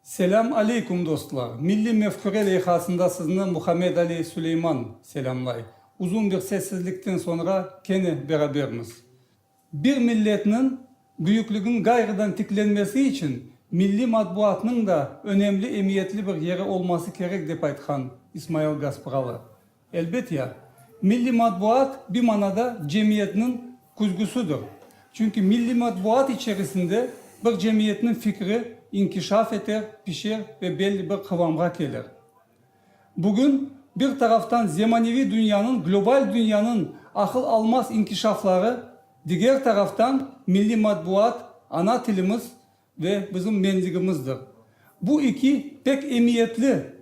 Selâm aleyküm dostlar! Milliy mefküre leyhasında sizni Muhammed Ali Suleyman selâmlay. Uzun bir sessizlikten soñra kene berabermiz. Bir milletniñ büyüklüginiñ ğayrıdan tiklenmesi içün milliy matbuatnıñ da önemli emiyetli bir yeri olması kerek dep aytqan İsmail Gaspıralı. Elbet ya. Milliy matbuat bir manada cemiyetniñ küzgüsidir. Çünki milliy matbuat içerisinde bir cemiyetniñ fikri inkişaf eter, pişer ve belli bir qıvamğa kelir. Bugün bir taraftan zemaneviy dünyanıñ, global dünyanıñ aqıl almaz inkişafları, diger taraftan milliy matbuat, ana tilimiz Ve bizim mendigimizdir. Bu iki pek emiyetli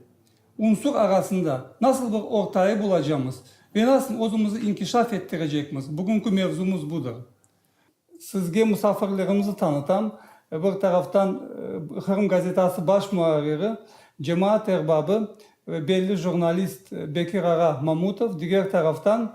unsur arasında nasıl bir ortayı bulacamız ve nasıl özümizi inkişaf ettirecekmiz, bugünki mevzumız budır. Sizge musafirlerimizni tanıtam. Bir taraftan Qırım gazetası baş muarriri, cemaat erbabı ve belli jurnalist Bekir ağa Mamutov, diger taraftan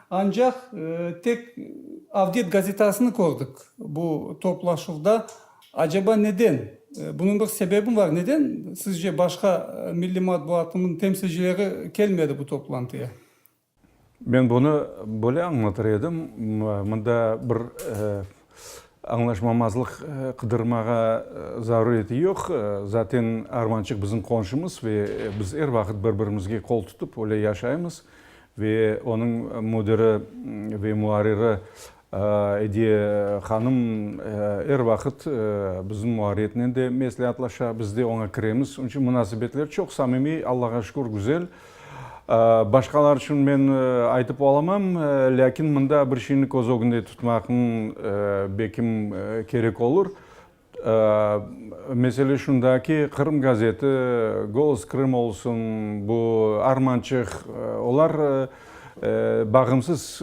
Ancaq tek Avdet gazetasını kördik bu toplaşuvda. Aceba neden? Bunıñ bir sebebimi bar? Neden sizce başqa milliy matbuatınıñ temsilcileri kelmedi bu toplantıya? Men bunı böyle añlatır edim, mında bir Añlaşmamazlıq qıdırmağa zaruriyeti yoq. Zaten Armançıq bizim qonşumız ve biz er vaqıt bir-birimizge qol tutıp öyle yaşaymız. Ve onıñ müdiri ve muarriri Ediye hanım er vaqıt bizim muarriyetnen de mesleatlaşa, biz de oña kiremiz. Onıñ içün munasebetler çoq samimiy, Allağa şükür, güzel. Başqalar içün men aytıp olamam, lâkin mında bir şeyni köz ögünde tutmaqnı belkim kerek olur. Mesele şunda ki, Qırım gazeti, Golos Krıma olsun, bu Armançıq, olar bağımsız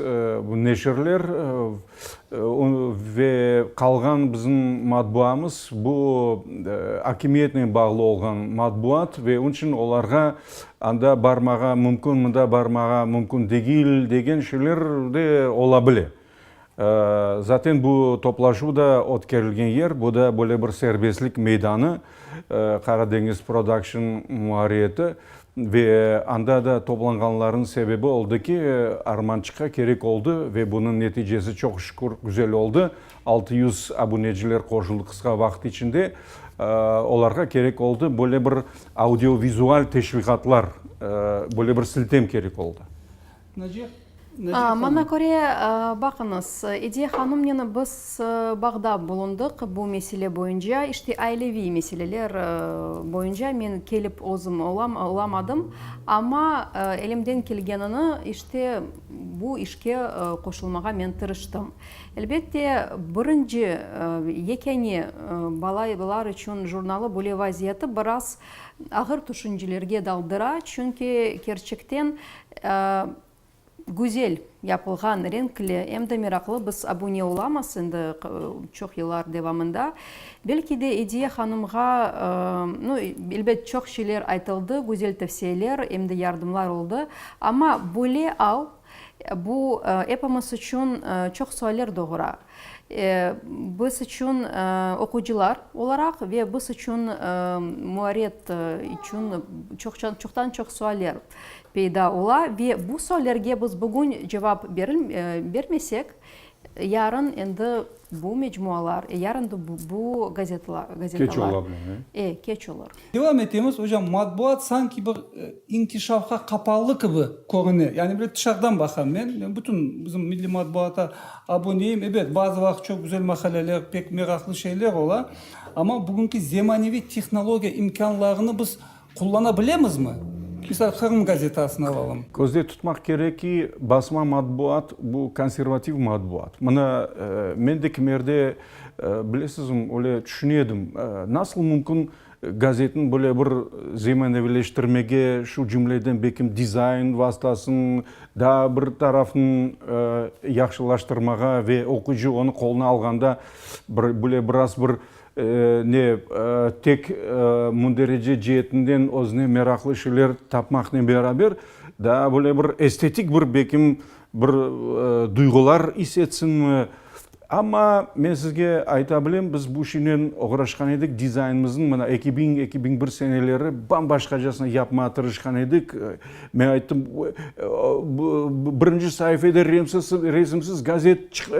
neşirler. Ve qalğan bizim matbuamız bu akimiyetnen bağlı olğan matbuat ve onıñ içün olarğa anda barmağa mümkün, mında barmağa mümkün degil degen şeyler de ola bile. Zaten bu toplaşuv da ötkerilgen yer, bu da böyle bir serbestlik meydanı. Qaradeñiz Production muarriyeti ve anda da toplanğanlarnıñ sebebi oldı ki, Armançıqqa kerek oldı ve bunıñ neticesi, çoq şükür, güzel oldı. Altı yüz abuneciler qoşuldı qısqa vaqıt içinde. Olarğa kerek oldı böyle bir audiovizual teşviqatlar, böyle bir siltem kerek oldı. Maña köre, baqıñız, Ediye hanımnen biz bağda bulundıq bu mesele boyunca, işte aileviy meseleler boyunca men kelip özüm olamadım, amma elimden kelgenini, işte bu işke qoşulmağa men tırıştım. Elbette, birinci, yekâne balalar içün jurnalı böyle vaziyeti biraz ağır tüşüncelerge daldıra, çünki kerçekten Güzel yapılğan, renkli, em de meraqlı biz abune olamız endi çoq yıllar devamında. Belki de Ediye hanımğa, nu, elbet çoq şeyler aytıldı, güzel tavsiyeler, em de yardımlar oldı. Amma böyle al, bu epimiz içün çoq sualler doğura. Biz içün oqucılar olaraq ve biz içün muarret içün çoqtan çoq sualler peyda ola ve bu suallerge biz bugün cevap bermesek, yarın endi bu mecmualar, yarın bu gazetalar keç olur. Devam etemiz, ocam, matbuat sanki bir inkişafqa qapalı kibi körüne, yani böyle tışardan baqam men, men bütün bizim milliy matbuata abuneyim, ebet, bazı vaqıt çoq güzel maqaleler, pek meraqlı şeyler ola, amma bugünki zemaneviy tehnologiya imkânlarını biz qullana bilemizmi? Misal, Qırım gazetasını alalım. Közde tutmaq kerek ki, basma matbuat, bu konservativ matbuat. Mına, men de kimerde Bilesizm, öyle tüşüne edim, nasıl mümkün gazetni böyle bir zemaneviyleştirmege, şu cümleden belkim dizayn vastasın, daa bir tarafın yahşılaştırmağa ve oquyıcı onı qoluna alğanda bir böyle biraz bir ne tek münderece ceetinden özüne meraqlı şeyler tapmaqnen beraber, daa böyle bir estetik bir belkim Bir duyğular is etsinmi. Amma men sizge ayta bilem, biz bu işinen oğraşqan edik, dizaynımıznıñ mına eki biñ, eki biñ bir seneleri bam-başqacasına yapmağa tırışqan edik. Men ayttım, birinci saifede resimsiz gazet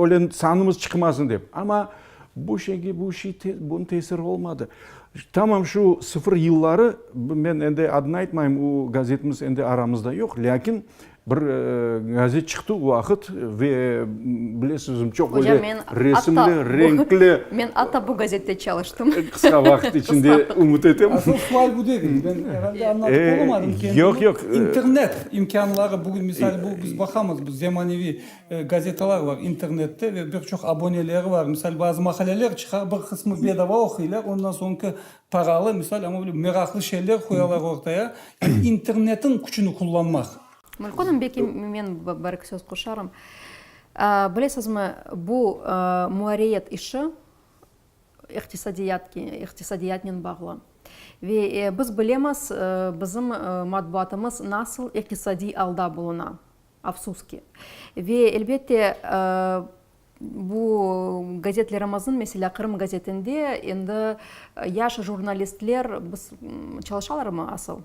öyle sanımız çıqmasın dep. Amma bu şeyge bunıñ tesiri olmadı. Tamam şu sıfır yılları, men endi adını aytmayım, o gazetimiz endi aramızda yoq, lâkin Bir gazet çıqtı o vaqıt ve bilesizmi, çoq böyle resimli, renkli. Men atta bu gazette çalıştım. Qısqa vaqıt içinde, ümüt etem. Asıl sual bu degil. Ben herhalde anlatıp olamadım kendimi. Yoq, yoq. İnternet imkânları, bugün misal bu, biz baqamız, bu zemaneviy gazetalar var internette ve bir çoq aboneleri var. Misal, bazı maqaleler çıqa, bir qısmı bedava oquylar, ondan soñki Paralı, misal, amma böyle meraqlı şeyler qoyalar ortaya, yani internetniñ küçüni qullanmaq. Mülkhanım, belki men bir iki söz qoşarım. Bilesizmi, bu muariyet işi iqtisadiyatke, iqtisadiyatnen bağlı. Ve biz bilemiz, bizim matbuatımız nasıl iqtisadiy alda buluna, afsus ki. Ve elbette, Bu gazetler amazın, meselâ, Qırım gazetinde endi yaş jurnalistler biz çalışalarmı asıl?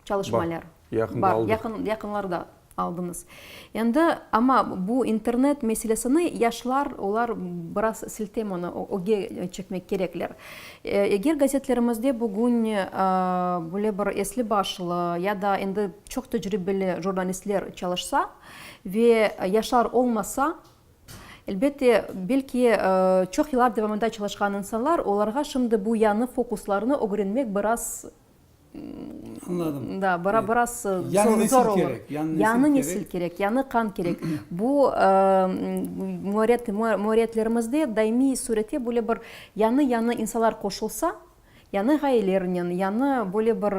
Çalışmaylar. Yaqında aldıq. Yaqın, yaqınlarda aldınız. Endi, amma bu internet meselesini yaşlar, olar biraz siltem onı, öge çekmek kerekler. Eger gazetlerimizde bugün böyle bir esli-başlı ya da endi çoq tecribeli jurnalistler çalışsa ve yaşlar olmasa, Elbette, belki, çoq yıllar devamında çalışqan insanlar, olarğa şimdi bu yañı fokuslarnı ögrenmek biraz, da, biraz zor olur. Yañı nesil kerek, yañı qan kerek. Bu, müerritlerimizde daimiy sürette böyle bir yañı-yañı insanlar qoşulsa, Yañı ğayelernen, yañı böyle bir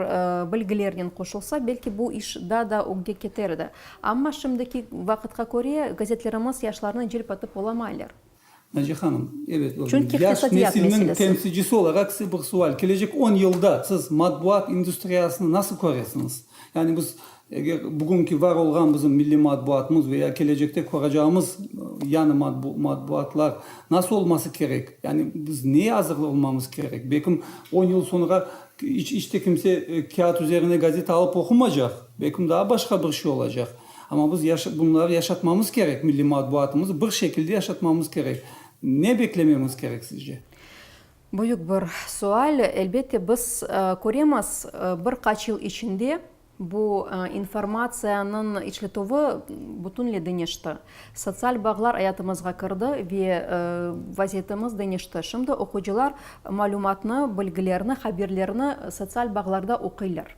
bilgilernen qoşulsa, belki bu iş daa da ögge keter edi. Amma şimdiki vaqıtqa köre, gazetlerimiz yaşlarnı celp etip olamaylar. Naci hanım, evet, yaş nesilniñ temsilcisi olaraq size bir sual. Kelecek on yılda siz matbuat industriyasını nasıl köresiñiz? Yani biz Eger bugünki var olğan bizim milliy matbuatımız ve ya kelecekte köreceğimiz yañı matbuatlar nasıl olması kerek? Yani biz neye azır olmamız kerek? Belki on yıl soñra iç de kimse kâğıt üzerine gazeta alıp oqumaycaq, belki daa başqa bir şey olacaq. Amma biz bunları yaşatmamız kerek, milliy matbuatımızı bir şekilde yaşatmamız kerek. Ne beklememiz kerek sizce? Büyük bir sual. Elbette biz köremiz, bir qaç yıl içinde Bu informatsiyanıñ işletüvi bütünle deñişti. Sotsial bağlar ayatımızğa kirdi ve vaziyetimiz deñişti. Şimdi oqucılar malümatnı, bilgilerni, haberlerni sotsial bağlarda oquylar.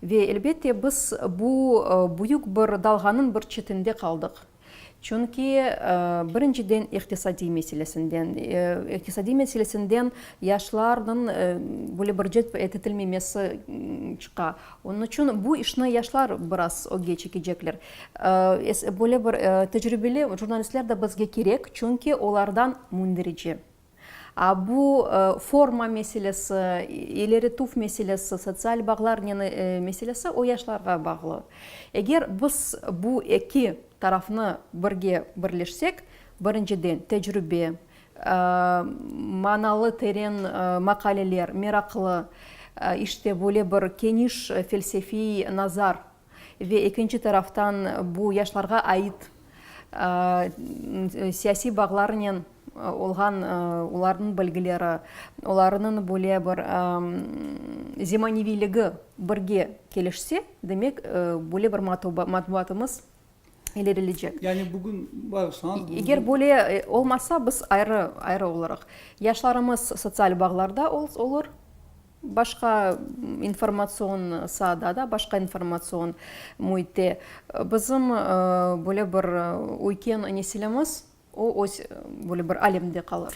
Ve elbette biz bu büyük bir dalğanıñ bir çetinde qaldıq. Çünki, birinciden, iqtisadiy meselesinden. İqtisadiy meselesinden yaşlarnıñ böyle bir celp etilmemesi çıqa. Onıñ içün bu işni yaşlar biraz ögge çekecekler. Böyle bir tecrübeli jurnalistler de bizge kerek, çünki olardan mündirici. Bu forma meselesi, ileri tuf meselesi, sotsial bağlar meselesi o yaşlarğa bağlı. Eger biz bu eki tarafnı birge birleşsek, birinciden, tecrübe, manalı, teren maqaleler, meraqlı, işte böyle bir keniş felsefiy nazar Ve ekinci taraftan bu yaşlarğa ait siyasiy bağlarnen olğan olarnıñ bilgileri, olarınıñ böyle bir zemaniviyligi birge kelişse, demek, böyle bir matbuatımız ilerilecek. Yani bugün bağışlañız, bugün. Eger böyle olmasa, biz ayrı, ayrı olaraq, yaşlarımız sotsial bağlarda olur, Başqa informatsion saada da, başqa informatsion müitte bizim böyle bir üyken nesilimiz, o öz böyle bir alemde qalır.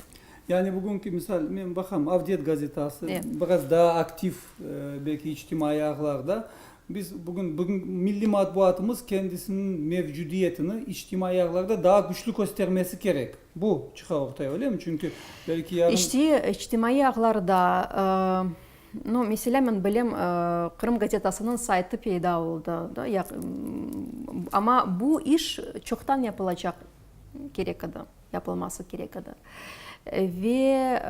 Yani bugünki misal, men baqam, Avdet gazetası, biraz daa aktiv belki içtimaiy ağlarda, Biz bugün, bugün milliy matbuatımız kendisiniñ mevcudiyetini içtimaiy ağlarda daa küçlü köstermesi kerek. Bu çıqa ortaya, öyle mi? Çünki belki yarın. İşte, içtimaiy ağlarda, no, meselâ, men bilem, Qırım gazetasınıñ saytı peyda oldı, da, ya, amma bu iş çoqtan yapılacaq kerek edi. yapılması kerek edi. Ve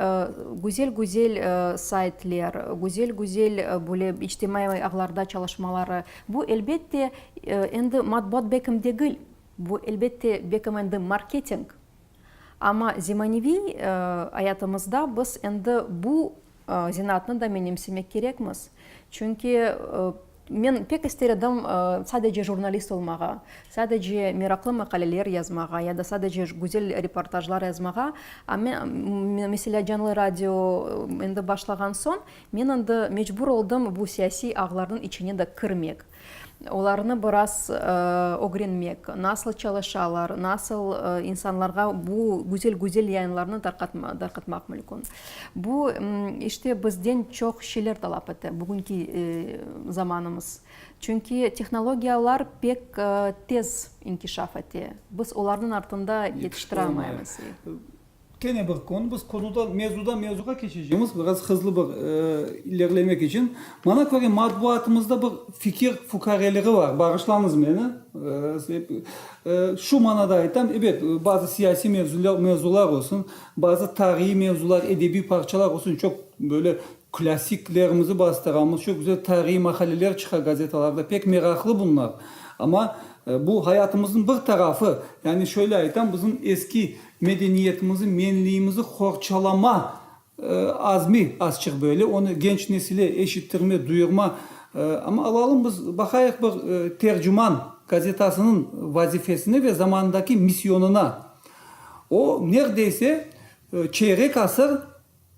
güzel-güzel saytler, güzel-güzel böyle içtimaiy ağlarda çalışmaları, bu, elbette, endi matbuat bekim degil, bu, elbette, bekim endi marketing. Amma zemaneviy ayatımızda biz endi bu. Zenaatnı da menimsemek kerekmiz. Çünki men pek ister edim sadece jurnalist olmağa, sadece meraqlı maqaleler yazmağa ya da sadece güzel reportajlar yazmağa. Amma, meselâ, canlı radio endi başlağan soñ, men endi mecbur oldım bu siyasiy ağlarnıñ içine de kirmek. Olarnı biraz ögrenmek, nasıl çalışalar, nasıl insanlarğa bu güzel-güzel yayınlarnı tarqatmaq mülkün. Bu, işte, bizden çoq şeyler talap ete, bugünki zamanımız. Çünki tehnologiyalar pek tez inkişaf ete, biz olarnıñ artında yetiştirealmaymız. Kene bir kün biz konudan, mevzudan mevzuğa keçecemiz, biraz hızlı bir ilerlemek içün. Maña köre, matbuatımızda bir fikir fukareliği var, bağışlañız meni, şu manada aytam, ebet, bazı siyasiy mevzular, mevzular olsun, bazı tarihiy mevzular, edebiy parçalar olsun, çoq böyle klassiklerimizi bastıramız, çoq güzel tarihiy maqaleler çıqa gazetalarda, pek meraqlı bunlar. Amma bu hayatımıznıñ bir tarafı, yani şöyle aytam, bizim eski Medeniyetimizi, menliyimizi qorçalama azmi azçıq böyle, onı genç nesile eşittirme, duyurma. Amma alalım biz, baqayıq bir Tercüman gazetasınıñ vazifesine ve zamanındaki missionına. O, nerdeyse çeyrek asır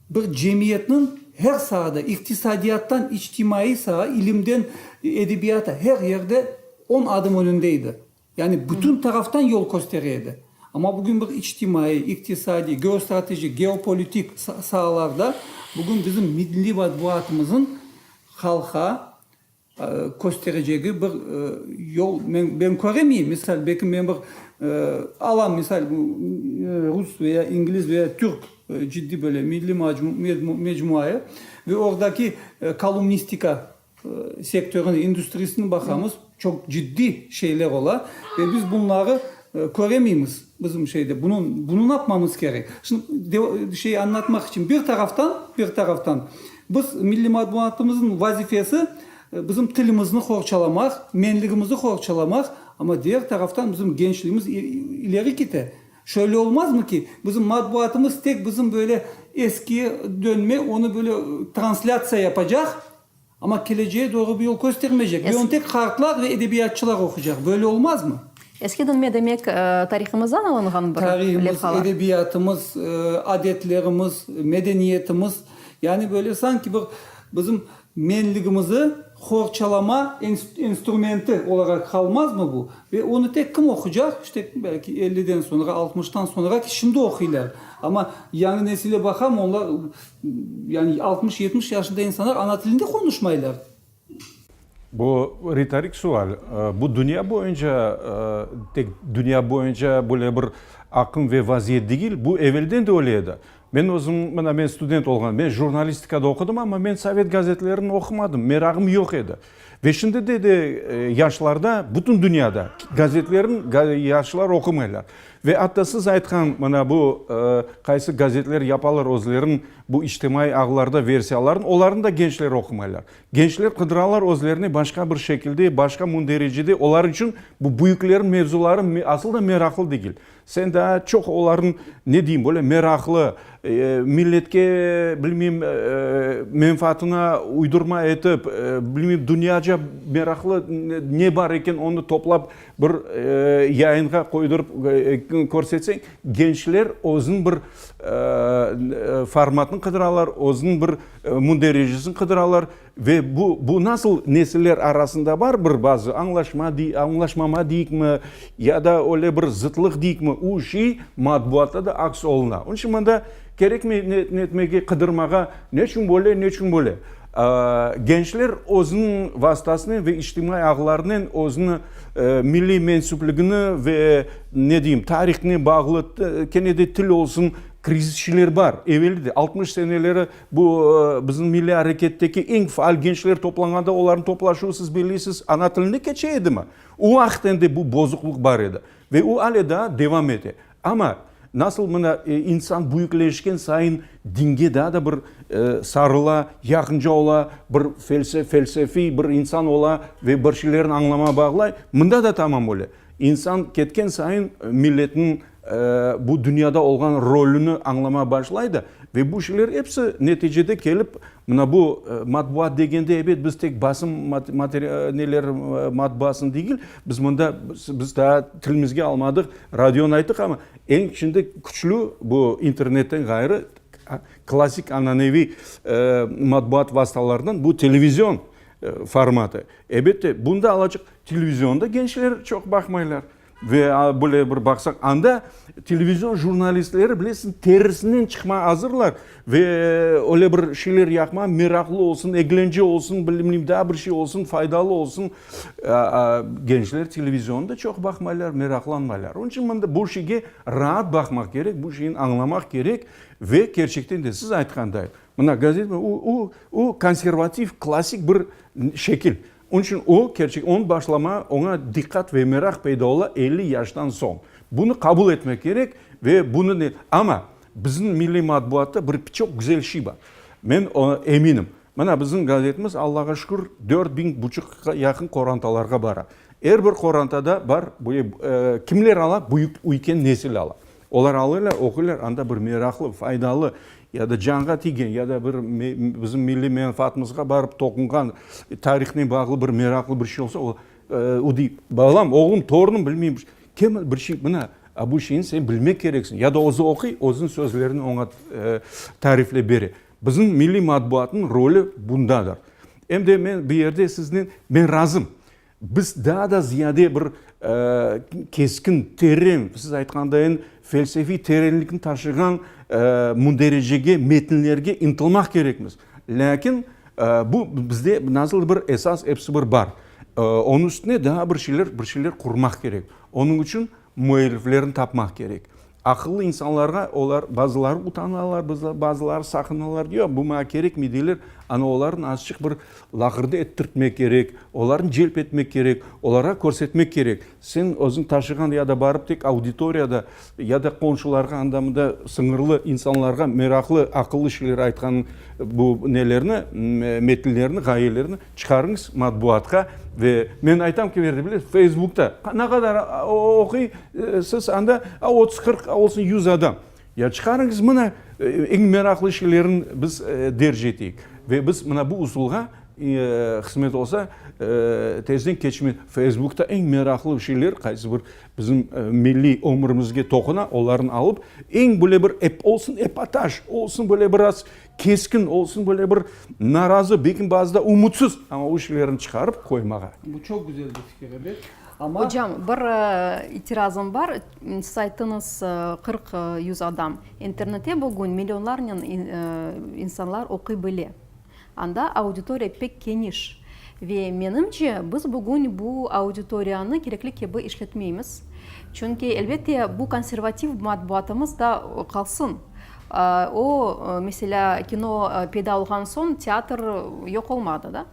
bir cemiyetniñ her saada, iqtisadiyattan içtimaiy saa, ilimden edebiyata, her yerde on adım önünde edi. Yani bütün taraftan yol köstere edi. Amma bugün bir içtimaiy, iqtisadiy, geostratejik, geopolitik saalarda bugün bizim milliy matbuatımızın halqa kösterecegi bir yol ben köremeyim. Misal, belki men bir alam misal, rus ve ya ingliz ve ya türk ciddiy böyle milliy mecmuayı ve ordaki kolumnistika Sektörniñ, industriyasınıñ baqamız, çoq ciddiy şeyler ola, ve biz bunları köremeymiz. Bizim şeyde bunıñ, bunı ne yapmamız kerek? Şimdi şey añlatmaq içün, bir taraftan, bir taraftan biz milliy matbuatımıznıñ vazifesi bizim tilimizni qorçalamaq, menligimizni qorçalamaq, amma diğer taraftan bizim gençligimiz ileri kite. Şöyle olmazmı ki, bizim matbuatımız tek bizim böyle eskiye dönme, onı böyle translâtsiya yapacaq, amma kelecege doğru bir yol köstermeycek ve onı tek qartlar ve edebiyatçılar oquycaq. Böyle olmazmı? Eski dönme demek, tarihımızdan alınğan bir levhalar? Tarihımız, edebiyatımız, adetlerimiz, medeniyetimiz, yani böyle sanki bir bizim Menligimizi qorçalama instrumenti olaraq qalmazmı bu? Ve onı tek kim oqucaq? İşte, belki elliden soñra, altmıştan soñra ki, şimdi oquylar. Amma yañı nesile baqam, onlar, yani altmış, yetmiş yaşında insanlar ana tilinde qonuşmaylar. Bu ritorik sual. Bu dünya boyunca, tek dünya boyunca böyle bir aqım ve vaziyet degil, bu evelden de öyle edi. Men özüm, mına, men student olğan, men jurnalistikada oqudım, amma men sovet gazetlerini oqumadım, meragım yoq edi. Ve şimdi de de yaşlarda, bütün dünyada gazetlerin yaşlar oqumaylar. Ve atta siz aytqan, mına, bu qaysı gazetler yapalar özlerin bu içtimaiy ağlarda versiyalarını, olarnı da gençler oqumaylar. Gençler qıdıralar özlerini başqa bir şekilde, başqa mündericede, olar içün bu büyüklerin mevzuları asıl da meraqlı degil. Sen daa çoq olarnıñ, ne deyim, böyle meraqlı, milletke, bilmeyim, menfaatına uydurma etip, bilmeyim, dünyaca meraqlı ne bar eken, onı toplap bir yayınğa qoydurıp körsetseñ, gençler özüniñ bir formatını qıdıralar, özüniñ bir münderecesini qıdıralar. Ve bu, bu nasıl nesiller arasında bar bir bazı añlaşma dey, añlaşmama deyikmi, ya da öyle bir zıtlıq deyikmi, u şey matbuatta da aks oluna. Onıñ içün mında kerekmey ne, ne etmege, qıdırmağa, ne içün böyle, ne içün böyle. Gençler özüniñ vastasınen ve içtimaiy ağlarınen özüni milliy mensüpligini ve, ne deyim, tarihine bağlı, kene de til olsun, krizisçiler bar. Evelide, altmış seneleri, Bu, bizim milliy areketteki eñ faal gençler toplanğanda olarnıñ toplaşuvı, siz belleysiz, ana tilinde keçe edimi? O vaqıt endi bu bozuqlıq bar edi ve o ale daa devam ete. Amma nasıl mına insan büyükleşken sayın dinge daa da bir sarıla, yaqınca ola, bir felsefiy bir insan ola ve bir şeylerni añlamağa bağlay, mında da tamam öyle. İnsan ketken sayın milletniñ, bu dünyada olğan rolüni añlamağa başlaydı ve bu şeyler episi neticede kelip mına bu matbuat degende, ebet, biz tek basım neler matbuatını degil, biz mında, biz daa tilimizge almadıq, radionı ayttıq, amma eñ şimdi küçlü bu internetten ğayrı klassik ananeviy matbuat vastalarından bu televizion formatı. Ebet de, bunda alacaq televizionda gençler çoq baqmaylar. Ve böyle bir baqsaq, anda televizion jurnalistleri, bilesiñ, terisinden çıqmağa azırlar ve öyle bir şeyler yaqmağa meraqlı olsun, eglence olsun, bilmeyim, daa bir şey olsun, faydalı olsun. Gençler televizionni da çoq baqmaylar, meraqlanmaylar. Onıñ içün mında bu şeyge raat baqmaq kerek, bu şeyni añlamaq kerek ve kerçekten de, siz aytqanday, mına, gazet, o, o, o, konservativ, klassik bir şekil. Onıñ içün o, kerçek, onıñ başlama, oña diqqat ve meraq peyda ola elli yaştan soñ. Bunı qabul etmek kerek ve bunı ne. Amma bizim milliy matbuatta bir çoq güzel şey bar. Men oña eminim. Mına, bizim gazetimiz, Allağa şükür, dört biñ buçuqqa yaqın qorantalarğa bara. Er bir qorantada bar, kimler ala, büyük üyken nesil ala. Olar alırlar, oquylar, anda bir meraqlı, faydalı ya da canğa tigen, ya da bir bizim milliy menfaatımızğa barıp toqunğan, tarihnen bağlı bir meraqlı bir şey olsa, o dey, balam, oğlum, torunım bilmey, kem bir şey, mına, a bu şeyni sen bilmek kereksiñ, ya da özü oquy, özüniñ sözlerini oña tariflep bere. Bizim milliy matbuatnıñ rolü bundadır. Em de men bu yerde siznen, men razım. Biz daa da ziyade bir keskin, teren, siz aytqandayin, felsefiy terenlikni taşığan mundericege, metinlerge ıntılmaq kerekmiz. Lâkin bu bizde nasıldır bir esas episi bir bar. Onıñ üstüne daa bir şeyler, bir şeyler qurmaq kerek. Onıñ içün Müelliflerini tapmaq kerek. Aqıllı insanlarğa olar, bazıları utanalar, bazıları saqınalar, yoq, bu maña kerekmey, deyler. Ana, olarnı azçıq bir laqırdı ettirtmek kerek, olarnı celp etmek kerek, olarğa körsetmek kerek. Sen özüñ taşığan ya da barıp tek auditoriyada ya da qonşularğa, anda-mında sıñırlı insanlarğa meraqlı, aqıllı şeyler aytqanıñ, bu nelerni, metinlerni, ğayelerni. Çıqarıñız matbuatqa ve men aytam ki, nerede bilesiz, feysbukta. Ne qadar oquy siz anda, otuz, qırq, olsun yüz adam. Ya çıqarıñız mına eñ meraqlı şeylerin biz derc eteyik ve biz mına bu usulğa qısmet olsa tezden keçme feysbukta eñ meraqlı şeyler qaysı bir bizim milliy ömrümizge toquna olarnı alıp eñ böyle bir ep olsun epotaj olsun böyle biraz Keskin olsun, böyle bir narazı, belki bazıda umutsız, amma o şeylerini çıqarıp qoymağa. Bu çoq güzel bir fikir, ebet. Amma. Ocam, bir itirazım bar. Siz ayttınız, qırq, yüz adam. İnternette bugün millionlarnen insanlar oquy bile. Anda auditoriya pek keniş. Ve menimce, biz bugün bu auditoriyanı kerekli kibi işletmeymiz. Çünki, elbette, bu konservativ matbuatımız da qalsın. O, meselâ, kino peyda olğan soñ teatr yoq olmadı da.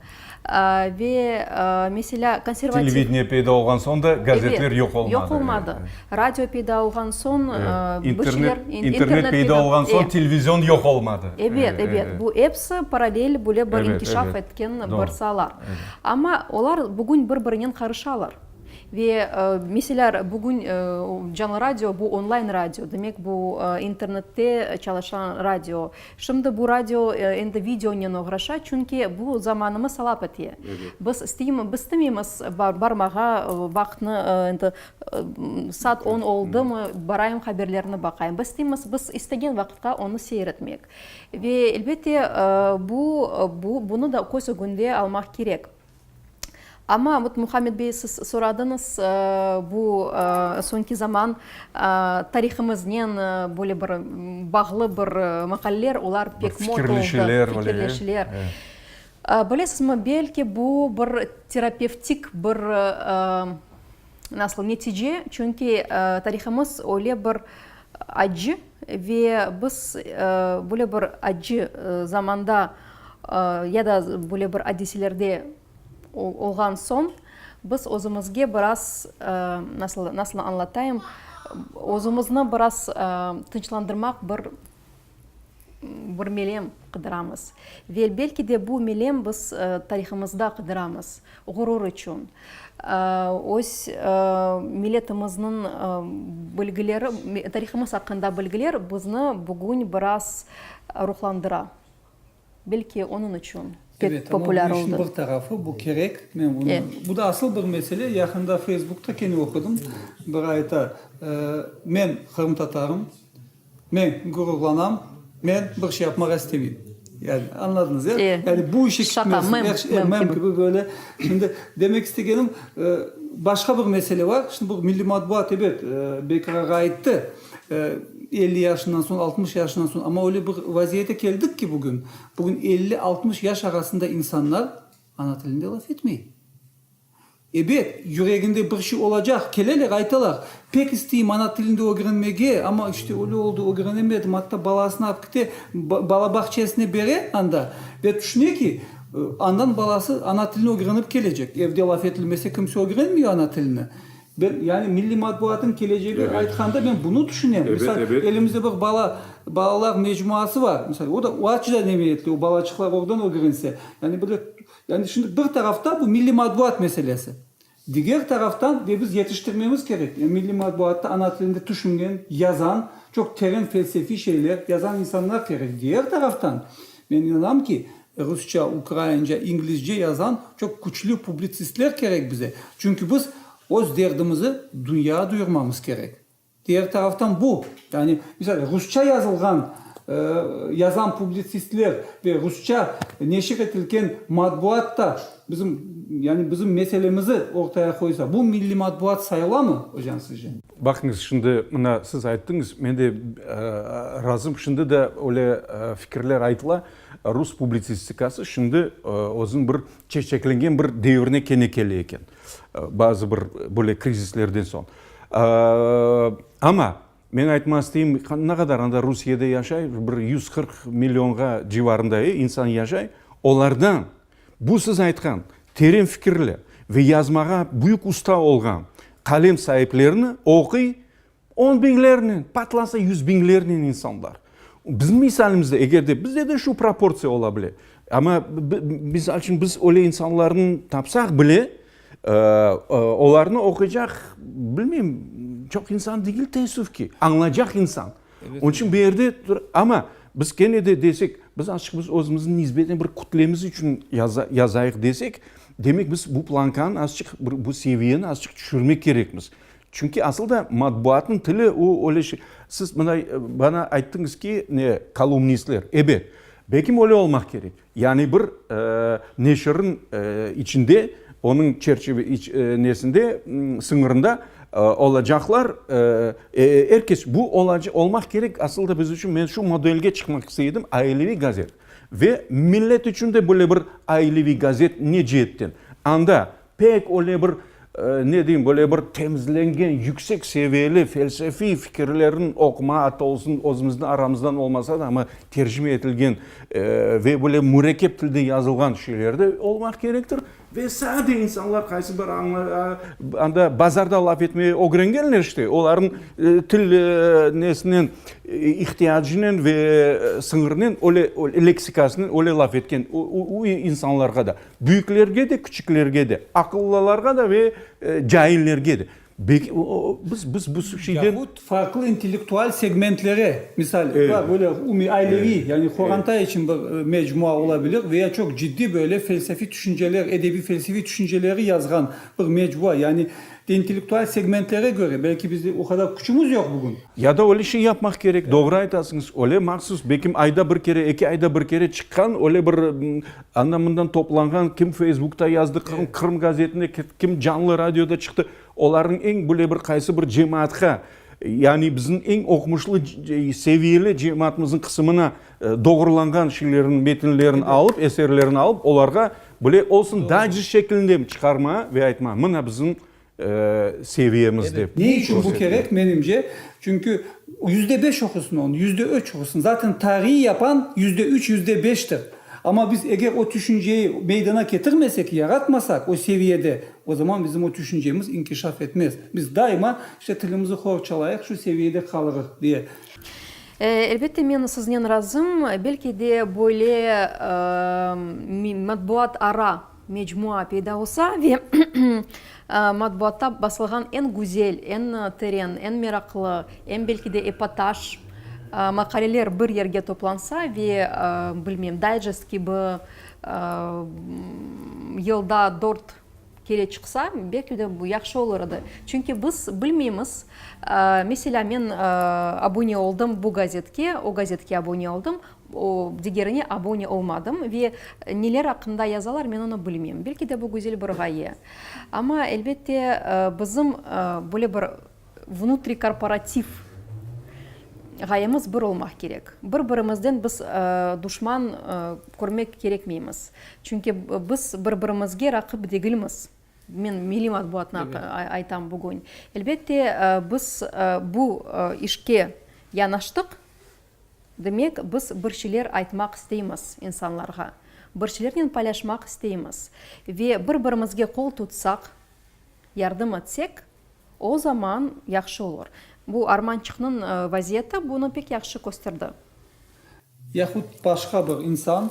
Ve, meselâ, konservativ. Televideniye peyda olğan soñ da gazetler yoq olmadı. Yoq olmadı. Radio peyda olğan soñ bir şeyler. İnternet peyda olğan soñ televizion yoq olmadı. Ebet, ebet. Bu episi paralel böyle bir inkişaf etken bir saalar. Amma olar bugün bir birinen qarışalar. Ve meseler bugün Canlı radio bu online radio, demek bu internette çalışan radio. Şimdi bu radio endi videonen oğraşa, çünki bu zamanımız talap ete. Biz istemeymiz barmağa, vaqtnı endi saat on oldımı, barayım haberlerni baqayım. Biz isteymiz, biz istegen vaqıtqa onı seyir etmek. Ve elbette bunı da köz ögünde almaq kerek. Amma, vot, Muhammed bey, siz soradıñız, bu soñki zaman tarihımıznen böyle bir bağlı bir maqaleler, olar pek mot oldı. Fikirleşüler. Fikirleşüler. Bilesizmi, belki bu bir terapevtik bir Nasıl netice? Çünki tarihımız öyle bir accı ve biz böyle bir accı zamanda ya da böyle bir adiselerde olğan soñ biz özümizge biraz, nasıl anlatayım, özümizni biraz tınçlandırmaq bir bir melem qıdıramız. Ve belki de bu melem biz tarihımızda qıdıramız, ğurur içün, öz miletimizniñ bilgileri, tarihımız aqqında bilgiler bizni bugün biraz ruhlandıra. Belki onıñ içün pek populâr oldı. Evet, amma bu işniñ bir tarafı, bu kerek. Men bunı, bu da asıl bir mesele. Yaqında Facebookta kene oqudım, biri ayta, Men qırımtatarım, men ğururlanam, men bir şey yapmağa istemeyim. Yani, añladınız, ya? Yani, bu işe kirmez. Mem kibi. Mem kibi, böyle. Şimdi, demek istegenim, başqa bir mesele bar. Şimdi, bu milliy matbuat, ebet, Bekirğa ayttı. Elli yaşından soñ, altmış yaşından soñ. Amma öyle bir vaziyete keldik ki, bugün, bugün elli, altmış yaş arasında insanlar ana tilinde laf etmey. Ebet, yüreginde bir şey olacaq, keleler, aytalar, pek isteyim ana tilinde ögrenmege, amma işte öyle oldu, ögrenemedim, atta balasını alıp kite, bala bağçesine bere anda ve tüşüne ki, andan balası ana tilini ögrenip kelecek. Evde laf etilmese, kimse ögrenmiyor ana tilini. Ben, yani milliy matbuatnıñ kelecegi aytqanda men bunı tüşünem. Misal, elimizde bir bala, balalar mecmuası bar. Misal, o da açıdan emiyetli, o balaçıqlar oradan ögrense. Yani böyle, yani şimdi bir taraftan bu milliy matbuat meselesi. Diger taraftan ve biz yetiştirmemiz kerek. Yani milliy matbuatta ana tilinde tüşüngen, yazan, çoq teren felsefiy şeyler yazan insanlar kerek. Diger taraftan, men inanam ki, Rusça, ukraince, inglizce yazan çoq küçlü publitsistler kerek bize, çünki biz öz derdimizi dünya duyurmamız kerek. Diğer taraftan bu, yani, misal, rusça yazılğan, yazan publitsistler ve rusça neşir etilken matbuat da bizim, yani, bizim meselemizi ortaya qoysa, bu milliy matbuat sayılamı, ocan, sizce? Baqıñız, şimdi mına siz ayttıñız, men de razım, şimdi de öyle fikirler aytıla. Rus publitsistikası şimdi özüniñ bir çeçeklengen bir devrine kene kele eken, bazı bir böyle krizislerden soñ. Amma, men aytmaq isteyim, ne qadar anda Rusiyede yaşay, bir yüz qırq millionğa civarında insan yaşay, olardan bu siz aytqan teren fikirli ve yazmağa büyük usta olğan qalem saiplerini oquy, On biñlernen, patlansa yüz biñlernen insanlar. Bizim misalimizde, eger de, bizde de şu proportsiya ola bile. Amma, misal içün, biz öyle insanlarnı tapsaq bile, olarnı oquycaq, bilmeyim, çoq insan degil, teessüf ki, añlaycaq insan. Onıñ içün bir yerde, amma biz kene de desek, biz açıq, biz özümüzni nisbeten bir kütlemiz içün yazayıq desek, demek, biz bu plankanı azıcıq, bu seviyeni azıcıq tüşürmek kerekmiz. Çünki asıl da matbuatnıñ tili o öyle şey. Siz mına bana ayttıñız ki, kolumnistler. Ebet, belki öyle olmaq kerek. Yani bir neşirniñ içinde, onıñ çerçeve nesinde, sıñırında olacaqlar. Er kes bu olmaq kerek. Asıl da biz içün, men şu modelge çıqmaq istey edim, aileviy gazet. Ve millet içün de böyle bir aileviy gazet ne ceetten? Anda Pek öyle bir, ne deyim, böyle bir temizlengen, yüksek seviyeli felsefiy fikirlerniñ oquma atı olsun, özümizniñ aramızdan olmasa da, amma tercime etilgen ve böyle mürekkep tilde yazılğan şeyler de olmaq kerektir. Ve sade insanlar, qaysı bir anda bazarda laf etmege ögrengenler işte, olarnıñ til nesinen, ihtiyacınen ve sıñırınen, öyle, leksikasınen öyle laf etken, o insanlarğa da. Büyüklerge de, küçüklerge de, aqıllılarğa da ve caillerge de. Biz, biz bu şeyden. Yahut farqlı intellektual segmentlere, misal, var böyle umumiy aileviy, yani qorantay içün bir mecmua ola bilir, ve ya çoq ciddiy böyle felsefiy tüşünceler, edebiy felsefiy tüşünceleri yazğan bir mecmua, yani intellektual segmentlere köre, belki biz o qadar küçümiz yoq bugün. Ya da öyle şey yapmaq kerek, doğru aytasıñız, öyle mahsus, belki ayda bir kere, eki ayda bir kere çıqqan öyle bir Ana mından toplanğan, kim feysbukta yazdı, kim Qırım gazetinde, kim canlı radioda çıqtı, olarnıñ eñ böyle bir qaysı bir cemaatqa, yani bizim eñ oqumuşlı, seviyeli cemaatımızın qısımına doğrulanğan şeylerin, metinlerin alıp, eserlerin alıp, olarğa böyle olsun, daycest şeklinde çıqarmağa ve aytmağa, mına bizim seviyemiz dep körsetmege. Ne içün bu kerek? Menimce, çünki yüzde beş oqusın onu, yüzde üç oqusın. Zaten tariy yapan yüzde üç, yüzde beştir. Amma biz eger o tüşünceyi meydana ketirmesek, yaratmasak o seviyede, o zaman bizim o tüşüncemiz inkişaf etmez. Biz daima işte tilimizi hor çalayıq, şu seviyede qalırıq diye. Elbette, men siznen razım. Belki de böyle matbuat ara mecmua peyda olsa ve matbuatta basılğan eñ güzel, eñ teren, eñ meraqlı, eñ belki de epotaj maqaleler bir yerge toplansa ve, bilmeyim, dayjest kibi yılda dört kere çıqsa, belki de bu yahşı olur edi. Çünki biz bilmeymiz, meselâ, men abune oldım bu gazetke, o gazetke abune oldım, O, digerine abone olmadım ve neler aqqında yazalar, men onı bilmem. Belki de bu güzel bir ğaye. Amma, elbette, bizim böyle bir vnutrikorporativ ğayemiz bir olmaq kerek. Bir-birimizden biz duşman körmek kerekmeymiz. Çünki biz bir-birimizge raqip degilmiz. Men milliy matbuatnı aytam bugün. Elbette, biz bu işke yanaştıq. Demek, biz bir şeyler aytmaq isteymiz insanlarğa, bir şeylernen paylaşmaq isteymiz ve bir-birimizge qol tutsaq, yardım etsek, o zaman yahşı olur. Bu armançıqnıñ vaziyeti bunı pek yahşı kösterdi. Yahut başqa bir insan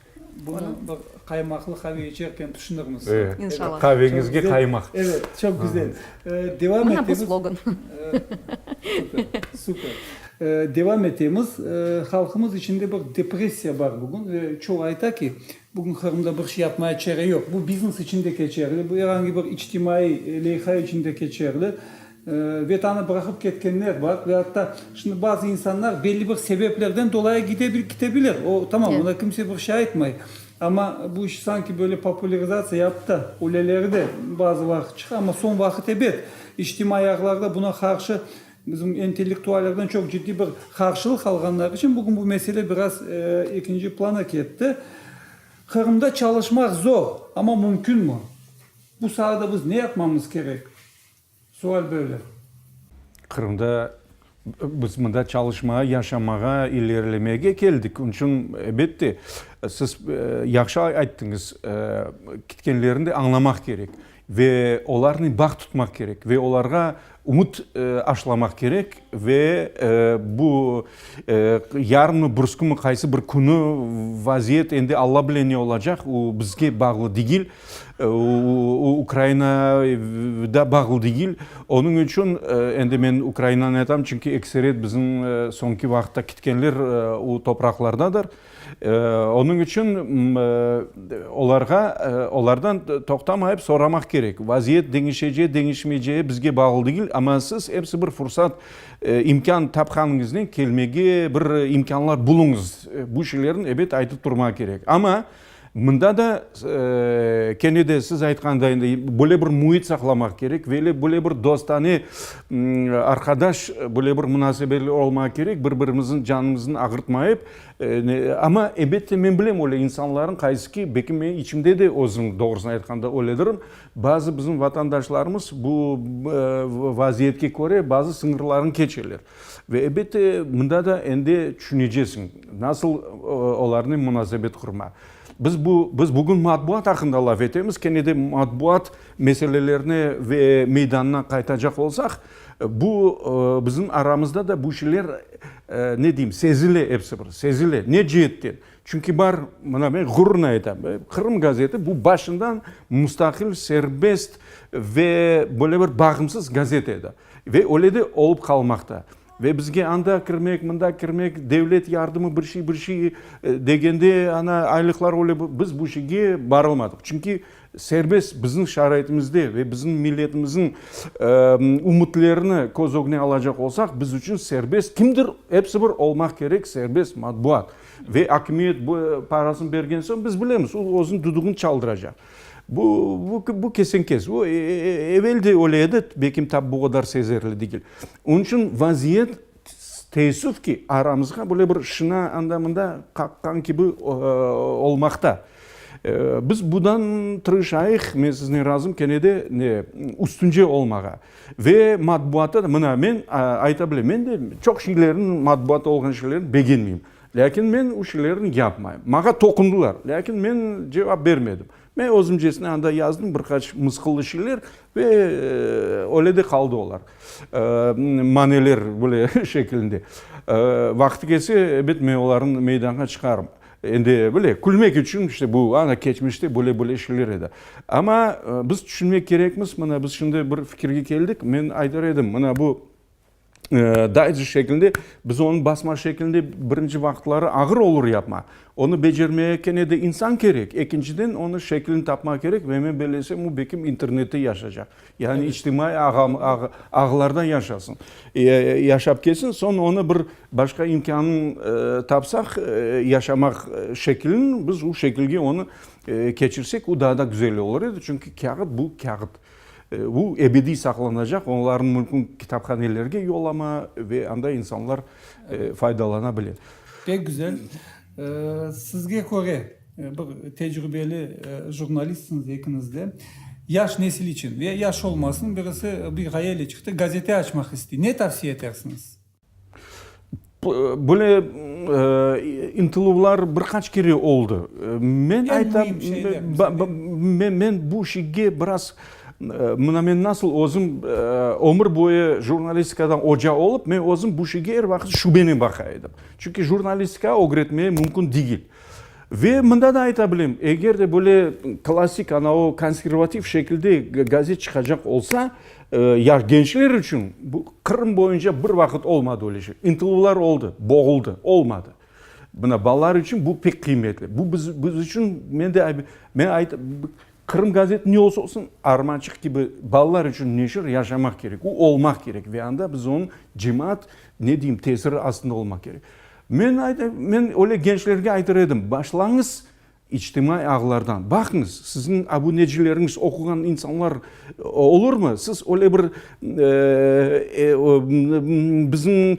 Bunı bir qaymaqlı qave içerken tüşünirmiz. İnşallah. Qaveñizge qaymaq. Evet, çoq güzel. Devam etemiz. Mına bu slogan. Super. Devam etemiz. Halqımız içinde bir depressiya bar bugün ve çoğu ayta ki, bugün Qırımda bir şey yapmaya çare yoq. Bu biznes içinde keçerli, bu erangi bir içtimaiy leyha içinde keçerli. Vetanı bıraqıp ketkenler bar ve atta şimdi bazı insanlar belli bir sebeplerden dolayı gide bil, kite bilir. O, tamam, ona kimse bir şey aytmay. Amma bu iş sanki böyle popularizatsiya yapıp da, öleleri de bazı vaqıt çıqa. Amma soñ vaqıt ebet, içtimaiy ağlarda buna qarşı bizim intellektuallerden çoq ciddiy bir qarşılıq alğanları içün bugün bu mesele biraz ekinci plana ketti. Qırımda çalışmaq zor, amma mümkünmi? Bu saada biz ne yapmamız kerek? Sual böyle. Qırımda biz mında çalışmağa, yaşamağa, ilerlemege keldik. Onıñ içün, elbette, siz yahşı ayttıñız, ketkenlerni de añlamaq kerek ve olarnen bağ tutmaq kerek ve olarğa ümüt aşılamaq kerek ve bu yarınmı, bursqumı, qaysı bir künü vaziyet endi Alla bile ne olacaq, o, bizge bağlı degil. O, Ukraina da bağlı degil. Onıñ içün endi men Ukrainanı aytam, çünki ekseret bizim soñki vaqıtta ketkenler o topraqlardadır. Onıñ içün olarğa, olardan toqtamayıp soramaq kerek. Vaziyet deñişecek, deñişmeycegi bizge bağlı degil, amma siz episi bir fursat, imkân tapqanıñıznen kelmege bir imkânlar buluñız. Bu şeylerni, ebet, aytıp turmaq kerek. Amma. Mında da, kene de siz aytqanday, böyle bir müit saqlamaq kerek, böyle bir dostane, arqadaş, böyle bir munasebetli olmaq kerek, bir birimizniñ canımıznı ağırtmayıp. Amma, elbette, men bilem, öyle insanlarnıñ qaysı ki, belki men içimde de özüm, doğrusını aytqanda, öyledirm, bazı bizim vatandaşlarımız bu vaziyetke köre bazı sıñırlarını keçeler. Ve elbette, mında da endi tüşünecesiñ, nasıl olarnen munasebet qurma. Biz bu, biz bugün matbuat aqqında laf etemiz, kene de matbuat meselelerine ve meydanına qaytacaq olsaq, bu, bizim aramızda da bu şeyler, ne deyim, sezile episi bir, sezile. Ne ceetten? Çünki bar, mına men ğururnen aytam, Qırım gazeti bu başından mustaqil, serbest ve böyle bir bağımsız gazete edi. Ve öyle de olıp qalmaqta. Ve bizge anda kirmek, mında kirmek, devlet yardımı, bir şey, bir şey degende, ana, aylıqlar öyle, biz bu şeyge barılmadıq. Çünki serbest bizim şaraitimizde ve bizim milletimizniñ ümütlerini köz ögüne alacaq olsaq, biz içün serbest kimdir, episi bir olmaq kerek, serbest matbuat. Ve akimiyet bu parasını bergen soñ, biz bilemiz, o, özüniñ düdügini çaldıracaq. Bu, bu kesin-kes. O, evel de öyle edi, belki tap bu qadar sezerli degil. Onıñ içün vaziyet, teessüf ki, aramızğa böyle bir şina anda-mında qaqqan kibi olmaqta. Biz bundan tırışayıq, men siznen razım, kene de üstünce olmağa. Ve matbuatta da, mına, men ayta bilem, men de çoq şeylerniñ, matbuatta olğan şeylerni begenmeyim. Lâkin men u şeylerni yapmayım. Maña toqundılar, lâkin men cevap bermedim. Men özümcesine anda yazdım bir qaç mısqıllı şeyler ve öyle de qaldı olar. Maneler böyle şekilinde. Vaqtı kelse, elbet, men olarnı meydanğa çıqarım. Endi böyle külmek içün, işte bu ana keçmişte böyle-böyle şeyler edi. Amma biz tüşünmek kerekmiz, mına biz şimdi bir fikirge keldik, men aytar edim, mına bu, Daycest şekilinde, biz onı basma şekilinde birinci vaqıtları ağır olur yapma. Onı becermege kene de insan kerek. Ekinciden, onı şeklini tapma kerek ve men böyle esem, o bekim internette yaşacaq. Yani içtimaiy ağlarda yaşasın, yaşap ketsin. Soñ onı bir başqa imkânını tapsaq, yaşamaq şeklini, biz o şekilge onı keçirsek, o daa da güzel olur edi. Çünki kâğıt, bu kâğıt. Bu ebediy saqlanacaq, onlarnıñ mülkün kitaphanelerge yollama ve anda insanlar faydalana bile. Pek güzel. Sizge köre, bir tecrübeli jurnalistsiniz ekiniz de, yaş nesil içün, ve yaş olmasın, birisi bir ğayeyle çıqtı, gazete açmaq istey, ne tavsiye etersiñiz? Böyle ıntıluvlar bir qaç kere oldı. Men aytam, men bu işge biraz, mına men nasıl özüm ömür boyu jurnalistikadan oca olıp, men özüm bu işge er vaqıt şübenen baqa edim. Çünki jurnalistika ögretmeye mümkün degil. Ve mında da ayta bilem, eger de böyle klassik ana o konservativ şekilde gazet çıqacaq olsa, ya gençler içün, bu Qırım boyunca bir vaqıt olmadı öyle şey. İntıluvlar oldı, boğuldı, olmadı. Mına balalar içün bu pek qıymetli. Bu biz içün, men de, men ayta, Qırım gazeti ne olsa olsun, Armançıq kibi balalar içün neşir yaşamaq kerek, o olmaq kerek ve anda biz onıñ cemaat, ne deyim, tesiri astında olmaq kerek. Men ayta, men öyle gençlerge aytır edim, başlañız içtimaiy ağlardan, baqıñız, siziñ abunecileriñiz, oquğan insanlar olurmı, siz öyle bir biziñ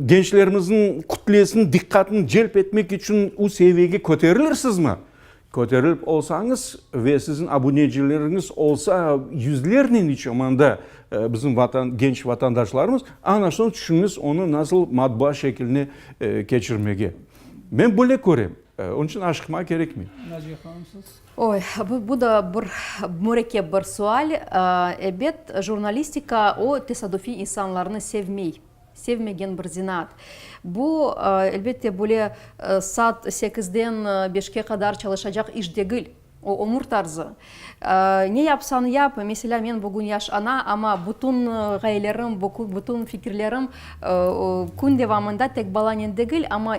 gençlerimizniñ kütlesiniñ diqqatını celp etmek içün o seviyege köterilirsizmi? Köterilip olsañız ve siziñ abunecileriñiz olsa yüzlernen içomanda bizim vatan, genç vatandaşlarımız, ana soñ tüşüñiz onı nasıl matbaa şekiline keçirmege. Men böyle körem. Onıñ içün aşıqmağa kerekmey. Naciye hanım, siz? Oy, bu, bu da bir mürekkep bir sual. Ebet, jurnalistika o tesadüfiy insanlarnı sevmey. sevmegen bir zenaat. Bu, elbette, böyle saat sekizden beşke qadar çalışacaq iş degil, o, ömür tarzı. Ne yapsañ yap, meselâ, men bugün yaş ana, amma bütün ğayelerim, bütün fikirlerim kün devamında tek balanen degil, amma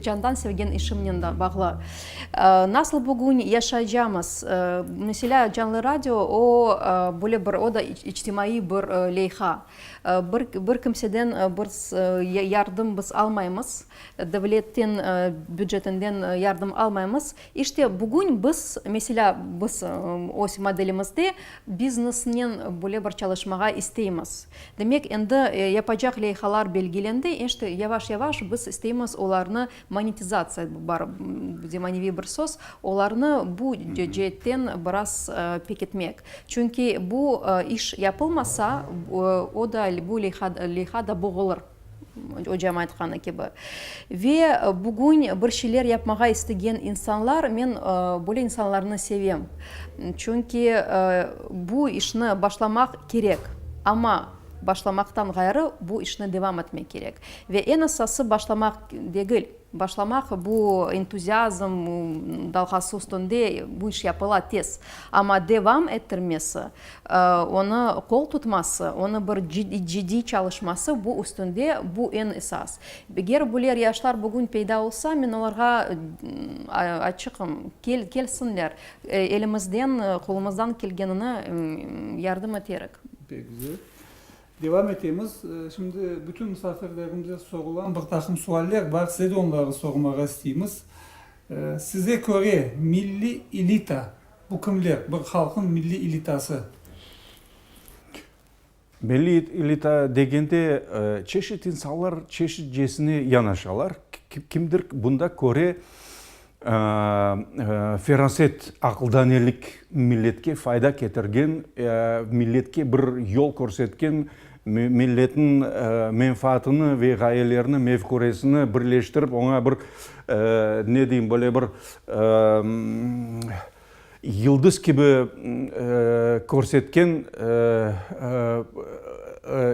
candan sevgen işimnen de bağlı. Nasıl bugün yaşaycamız? Meselâ, Canlı radio, o, böyle bir, o da içtimaiy bir leyha. Bir bir kimseden bir yardım biz almaymız, devletten bücetinden yardım almaymız. İşte, bugün biz, meselâ, biz öz modelimizde biznesnen böyle bir çalışmağa isteymiz. Demek, endi yapacaq leyhalar belgilendi, işte, yavaş-yavaş biz isteymiz olarnı monetizatsiya, bar zemaneviy bir söz, olarnı bu ceetten biraz pekitmek. Çünki bu iş yapılmasa, o da, bu leyha da boğulır, ocam aytqanı kibi. Ve bugün bir şeyler yapmağa istegen insanlar, men böyle insanlarnı sevem. Çünki bu işni başlamaq kerek, amma başlamaqtan ğayrı bu işni devam etmek kerek. Ve eñ esası, başlamaq degil. Başlamaq, bu entuziazm dalğası üstünde bu iş yapıla tez, amma devam ettirmesi, onı qol tutması, onı bir cıddiy çalışması bu üstünde, bu eñ esas. Eger buler yaşlar bugün peyda olsa, men olarğa açıqım, kelsinler, elimizden, qolumızdan kelgenini yardım eterik. Devam etemiz. Şimdi bütün musafirlerimize sorulan bir taqım sualler bar, size de onları sormağa isteymiz. Size köre milliy elita, bu kimler? Bir halqnıñ milliy elitası. Milliy elita degende çeşit insanlar çeşitcesine yanaşalar. Kimdir bunda köre Feraset, aqıldanelik, milletke fayda ketirgen, milletke bir yol körsetken, milletniñ menfaatını ve ğayelerini, mefküresini birleştirip, oña bir, ne deyim, böyle bir Yıldız kibi körsetken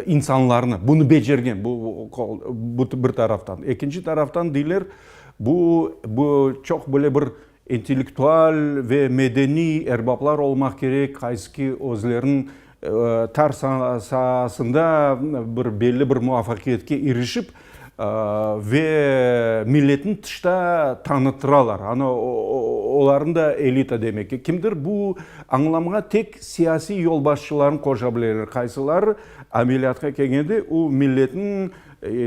insanlarnı, bunı becergen, bu bir taraftan. Ekinci taraftan deyler, bu çoq böyle bir intellektual ve medeniy erbaplar olmaq kerek, qaysı ki, özleriniñ Tar saasında bir belli bir muvafaqiyetke irişip ve milletni tışta tanıtıralar. Ana, olarnı da elita demek. Kimdir bu añlamğa tek siyasiy yolbaşçılarnı qoşabileler, qaysılar ameliyatqa kelgende o milletni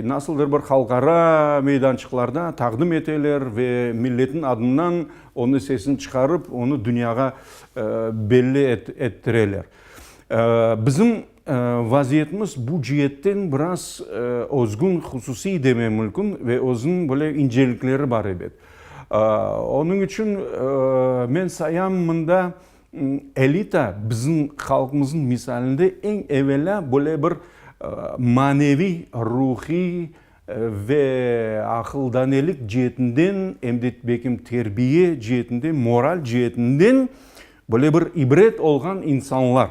nasıldır bir halqara meydançıqlarda taqdim eteler ve milletniñ adından onıñ sesini çıqarıp, onı dünyağa belli ettireler. Bizim vaziyetimiz bu cietten biraz özgün, hususiy demem mülkün ve özüniñ böyle incelikleri bar ebet. Onıñ içün men sayam mında elita bizim halqımızıñ misalinde eñ evelâ böyle bir maneviy, ruhiy, Ve aqıldanelik ceetinden, em de belkim terbiye ceetinden, moral ceetinden böyle bir ibret olğan insanlar.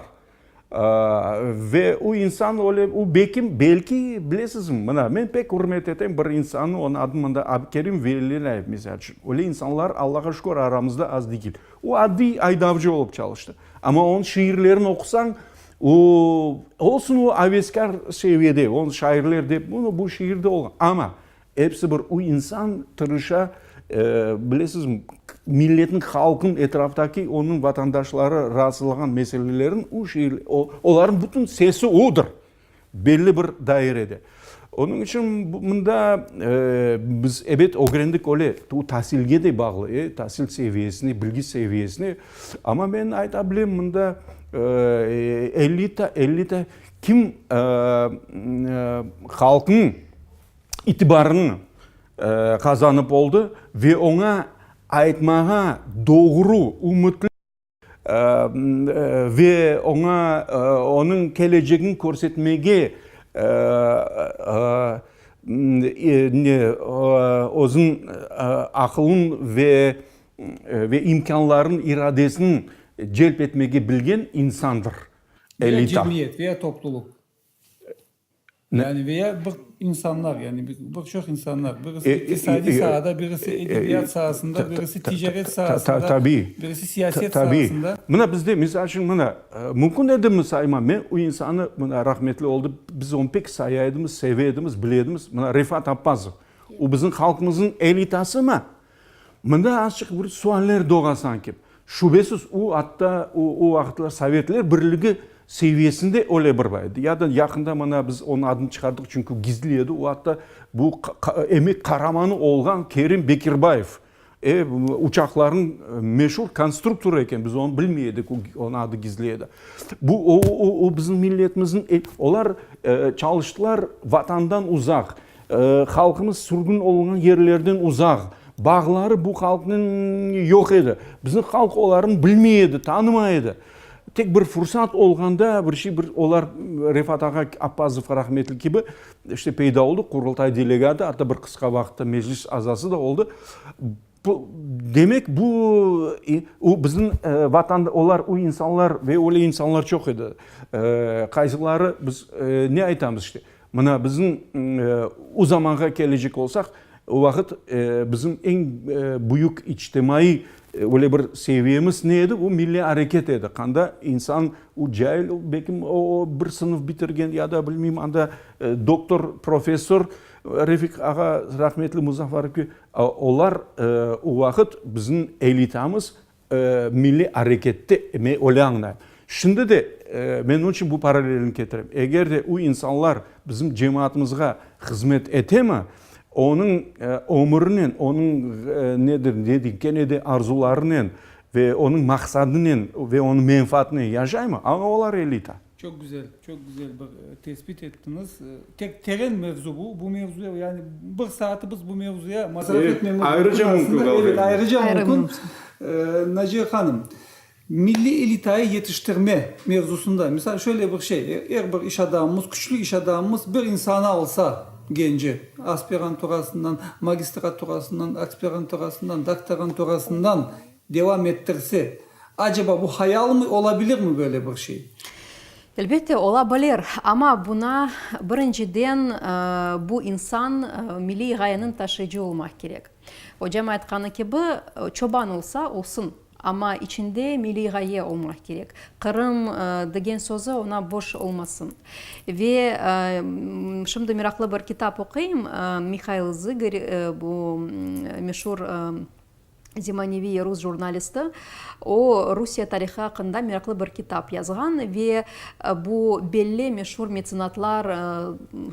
Ve o insan öyle, o belkim, belki, bilesizmi, mına, men pek ürmet etem bir insannı, onıñ adını mında Abkerim Velilâyev, misal içün. Öyle insanlar, Allağa şükür, aramızda az degil. O adiy aydavcı olıp çalıştı. Amma onıñ şiirlerini oqusañ, O, olsun, o aveskâr seviyede, o şairler dep, bunı bu şiirde olğan. Amma episi bir, o insan tırışa, bilesiz, milletniñ, halqnıñ, etraftaki onıñ vatandaşları rahatsızlağan meselelerin o şiir, olarnıñ bütün sesi odır. Belli bir dairede. Onıñ içün mında biz, ebet, ögrendik, öyle, o tasilge de bağlı, e, tasil seviyesine, bilgi seviyesine. Amma men ayta bilem, mında elita, elita kim halqnıñ itibarını qazanıp oldı ve oña aytmağa doğru, ümütli. ve oña onıñ kelecegini körsetmege özüniñ aqılın ve imkânların, iradesini celp etmege bilgen insandır. Elita. Yani veya bir insanlar, yani bir çoq insanlar, birisi iqtisadiy saada, birisi edebiyat saasında, birisi ticaret saasında, birisi siyaset saasında. Tabii, mına bizde, misal içün, mına, mümkün edimi saymam, men o insanı, mına, rahmetli oldı, biz onı pek saya edimiz, seve edimiz, bile edimiz, mına, Refat Appazov. O bizim halqımızın elitasımı? Mında azçıq bir sualler doğa sanki. Şübesiz, o atta, o vaqıtlar Sovetler Birligi seviyesinde öyle bir var edi. Ya da yaqında mına biz onıñ adını çıqardıq, çünki gizli edi. O atta bu emek qaramanı olğan Kerim Bekirbayev uçaqlarnıñ meşur konstruktorı eken. Biz onı bilmey edik, onıñ adı gizli edi. Bu o bizim milletimizniñ, olar çalıştılar Vatandan uzaq. Halqımız sürgün olunğan yerlerden uzaq, bağları bu halqnıñ yoq edi. Bizni halq olarnı bilmey edi, tanımay edi. Tek bir fursat olğanda bir şey, bir olar Refat ağa Appazov rahmetli kibi işte peyda oldı, Qurultay delegatı, atta bir qısqa vaqıtta Meclis azası da oldı. Bu, demek, bu, o, bizim vatan, olar, o insanlar ve öyle insanlar çoq edi, qaysileri biz ne aytamız işte, mına bizim o zamanğa kelecek olsaq, o vaqıt bizim eñ büyük içtimaiy öyle bir seviyemiz ne edi, o milliy areket edi, qanda insan, o cail, belki o bir sınıf bitirgen ya da bilmeyim, anda doktor, professor, Refik ağa, rahmetli Muzaffer Olar o vaqıt bizim elitamız milliy arekette edi, öyle añlay. Şimdi de men onıñ içün bu paralelni ketirem. Eger de o insanlar bizim cemaatımızğa hızmet etemi, onıñ ömürinen, onıñ ne dedim, kene de arzularınen ve onıñ maqsadınen ve onıñ menfaatinen yaşaymı, aña olar elita. Çoq güzel, çoq güzel bir tesbit ettiñiz. Tek teren mevzu bu. Bu mevzuya, yani bir saatı biz bu mevzuya masraf etmemiz mümkün. Ayrıca mümkün qalğan. Evet, ayrıca mümkün. Naciye hanım, milliy elitayı yetiştirme mevzusında, misal, şöyle bir şey, er bir iş adamımız, küçlü iş adamımız bir insanı alsa, genci, aspiranturasından, magistraturasından, aspiranturasından, doktoranturasından, Devam ettirse, aceba bu hayalmi, olabilirmi böyle bir şey? Elbette, ola bilir. Amma buna, birinciden, bu insan milliy ğayeniñ taşıyıcı olmaq kerek. Ocam aytqanı kibi, çoban olsa, olsun, amma içinde milliy ğaye olmaq kerek, Qırım degen sözü oña boş olmasın. Ve şimdi meraqlı bir kitap oquyım, Mihail Zıgır, bu meşur Zemaneviy rus jurnalisti. O, Rusiye tarihı aqqında meraqlı bir kitap yazğan ve bu belli meşur metsenatlar,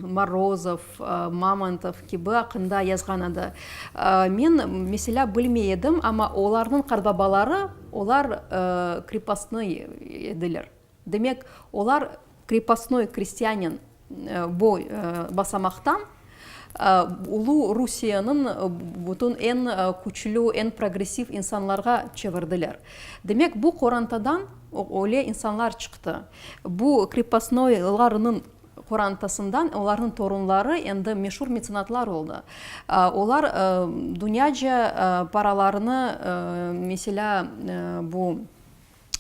Morozov, Mamontov kibi aqqında yazğan edi. Men, meselâ, bilmey edim, amma olarnıñ qartbabaları, olar krepostnoy ediler. Demek, olar krepostnoy krestyanin bu basamaqtan ulu Rusiyeniñ bütün eñ küçlü, eñ progressiv insanlarğa çevirdiler. Demek, bu qorantadan öyle insanlar çıqtı. Bu krepostnoylarnıñ qorantasından olarnıñ torunları endi meşur metsenatlar oldı. Olar dünyaca paralarnı, meselâ, bu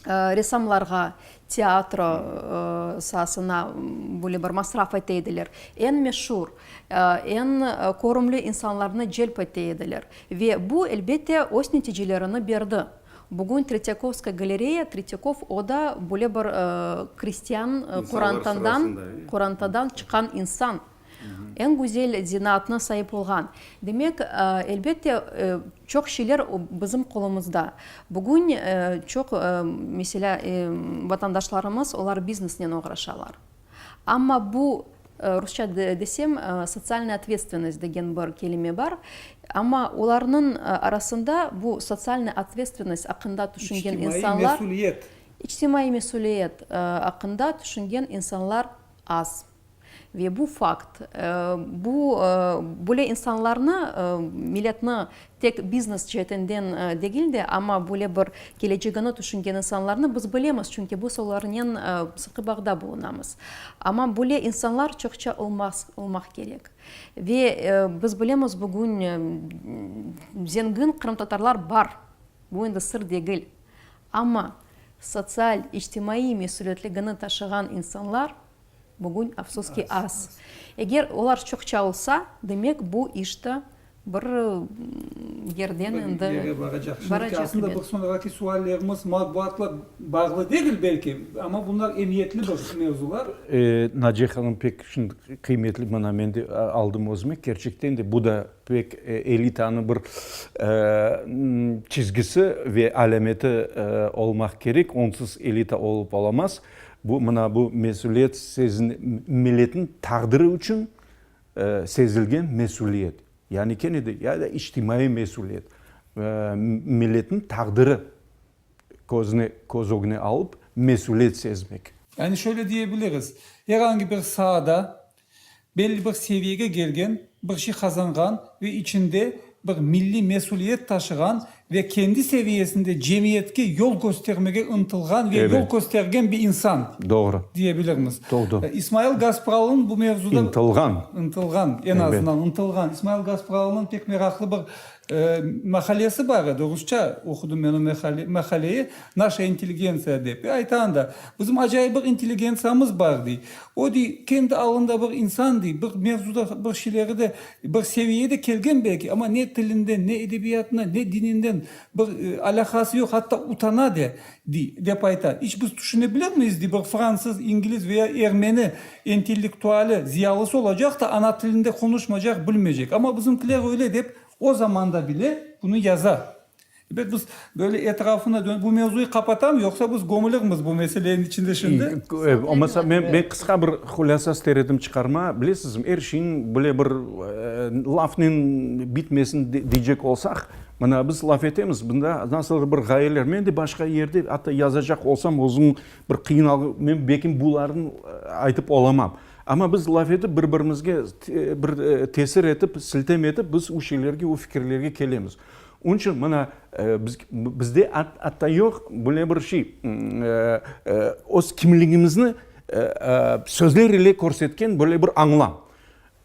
ressamlarğa, teatro saasına böyle bir masraf ete ediler, eñ meşur, eñ körümli insanlarnı celp ete ediler. Ve bu, elbette, öz neticelerini berdi. Bugün Tretyakovskaya galereya, Tretyakov, o da böyle bir kristian qorantadan, qorantadan çıqqan insan. eñ güzel zenaatına saip olğan. Demek, elbette, çoq şeyler bizim qolumızda. Bugün çoq, meselâ, vatandaşlarımız, olar biznesnen oğraşalar. Amma bu, rusça desem, sotsialnaya otvetstvennost degen bir kelime bar, amma olarnıñ arasında bu sotsialnaya otvetstvennost aqqında tüşüngen insanlar. İçtimaiy mesüliyet. İçtimaiy mesüliyet aqqında tüşüngen insanlar az. Ve bu fakt, bu böyle insanlarnı, milletni tek biznes ceetinden degil de, amma böyle bir kelecegini tüşüngen insanlarnı biz bilemiz, çünki biz olarnen sıqı bağda bulunamız. Amma böyle insanlar çoqça olmaq kerek. Ve biz bilemiz, bugün zengin qırımtatarlar bar, bu endi sır degil. Amma sotsial, içtimaiy mesülietligini taşığan insanlar Bugün, afsus ki, az. Eger olar çoqça olsa, demek, bu iş de bir yerden endi baracaq. Şimdiki, aslında, bir soñraki suallerimiz matbuatla bağlı degil, belki, amma bunlar emiyetli bir mevzular. Naciye hanım, pek şimdi qıymetli, mana men de aldım özüme, kerçekten de bu da pek elitanıñ bir çizgisi ve alâmeti olmaq kerek, onsuz elita olıp olamaz. Bu, mına bu mesüliyet sezin, milletin taqdiri içün sezilgen mesüliyet. Yani kene de, ya da içtimaiy mesüliyet. Milletin taqdiri közüne, köz ögüne alıp mesüliyet sezmek. Yani şöyle diyebiliriz, erangi bir saada Belli bir seviyege gelgen, bir şey qazanğan ve içinde bir milliy mesüliyet taşığan ve kendi seviyesinde cemiyetke yol köstermege ıntılğan ve yol köstergen bir insan diyebilirmiz. İsmail Gaspralı'nıñ bu mevzuda. İntılğan. İntılğan, en azından, intılğan. İsmail Gaspralı'nıñ pek meraqlı bir Mahallesi bar edi, rusça oqudım men o mahalleyi, Naşa intelligentsiya dep. E, ayta anda, bizim acayip bir intelligentsiyamız bar, dey. O, dey, kendi alında bir insan, dey, bir mevzuda bir şeyleri de, bir seviyeye de kelgen belki, amma ne tilinden, ne edebiyatından, ne dininden bir alâqası yoq, hatta utana de, dey, dep ayta. İç biz tüşünebilemiz, dey, bir fransız, ingliz veya ermeni Entellektuali, ziyalısı olacaq da, ana tilinde qonuşmacaq, bilmecek. Amma bizimkiler öyle dep o zamanda bile bunı yaza. Ebet, biz böyle etrafına dönüp, bu mevzuyı qapatam, yoqsa biz gömülirmiz bu meseleniñ içinde şimdi. Olmasa, men, men qısqa bir hulâsa ister edim çıqarma. Bilesizmi, er şeyniñ böyle bir lafnen bitmesin deycek olsaq, mana biz laf etemiz, bunda nasıldır bir ğayeler. Men de başqa yerde, atta yazacaq olsam, özüm Bir qıyınalğı, men belki bularnı aytıp olamam. Amma biz laf etip, bir-birimizge bir tesir etip, siltem etip, biz o şeylerge, o fikirlerge kelemiz. Onıñ içün mına bizde atta yoq böyle bir şey, öz kimligimizni sözler ile körsetken böyle bir añlam.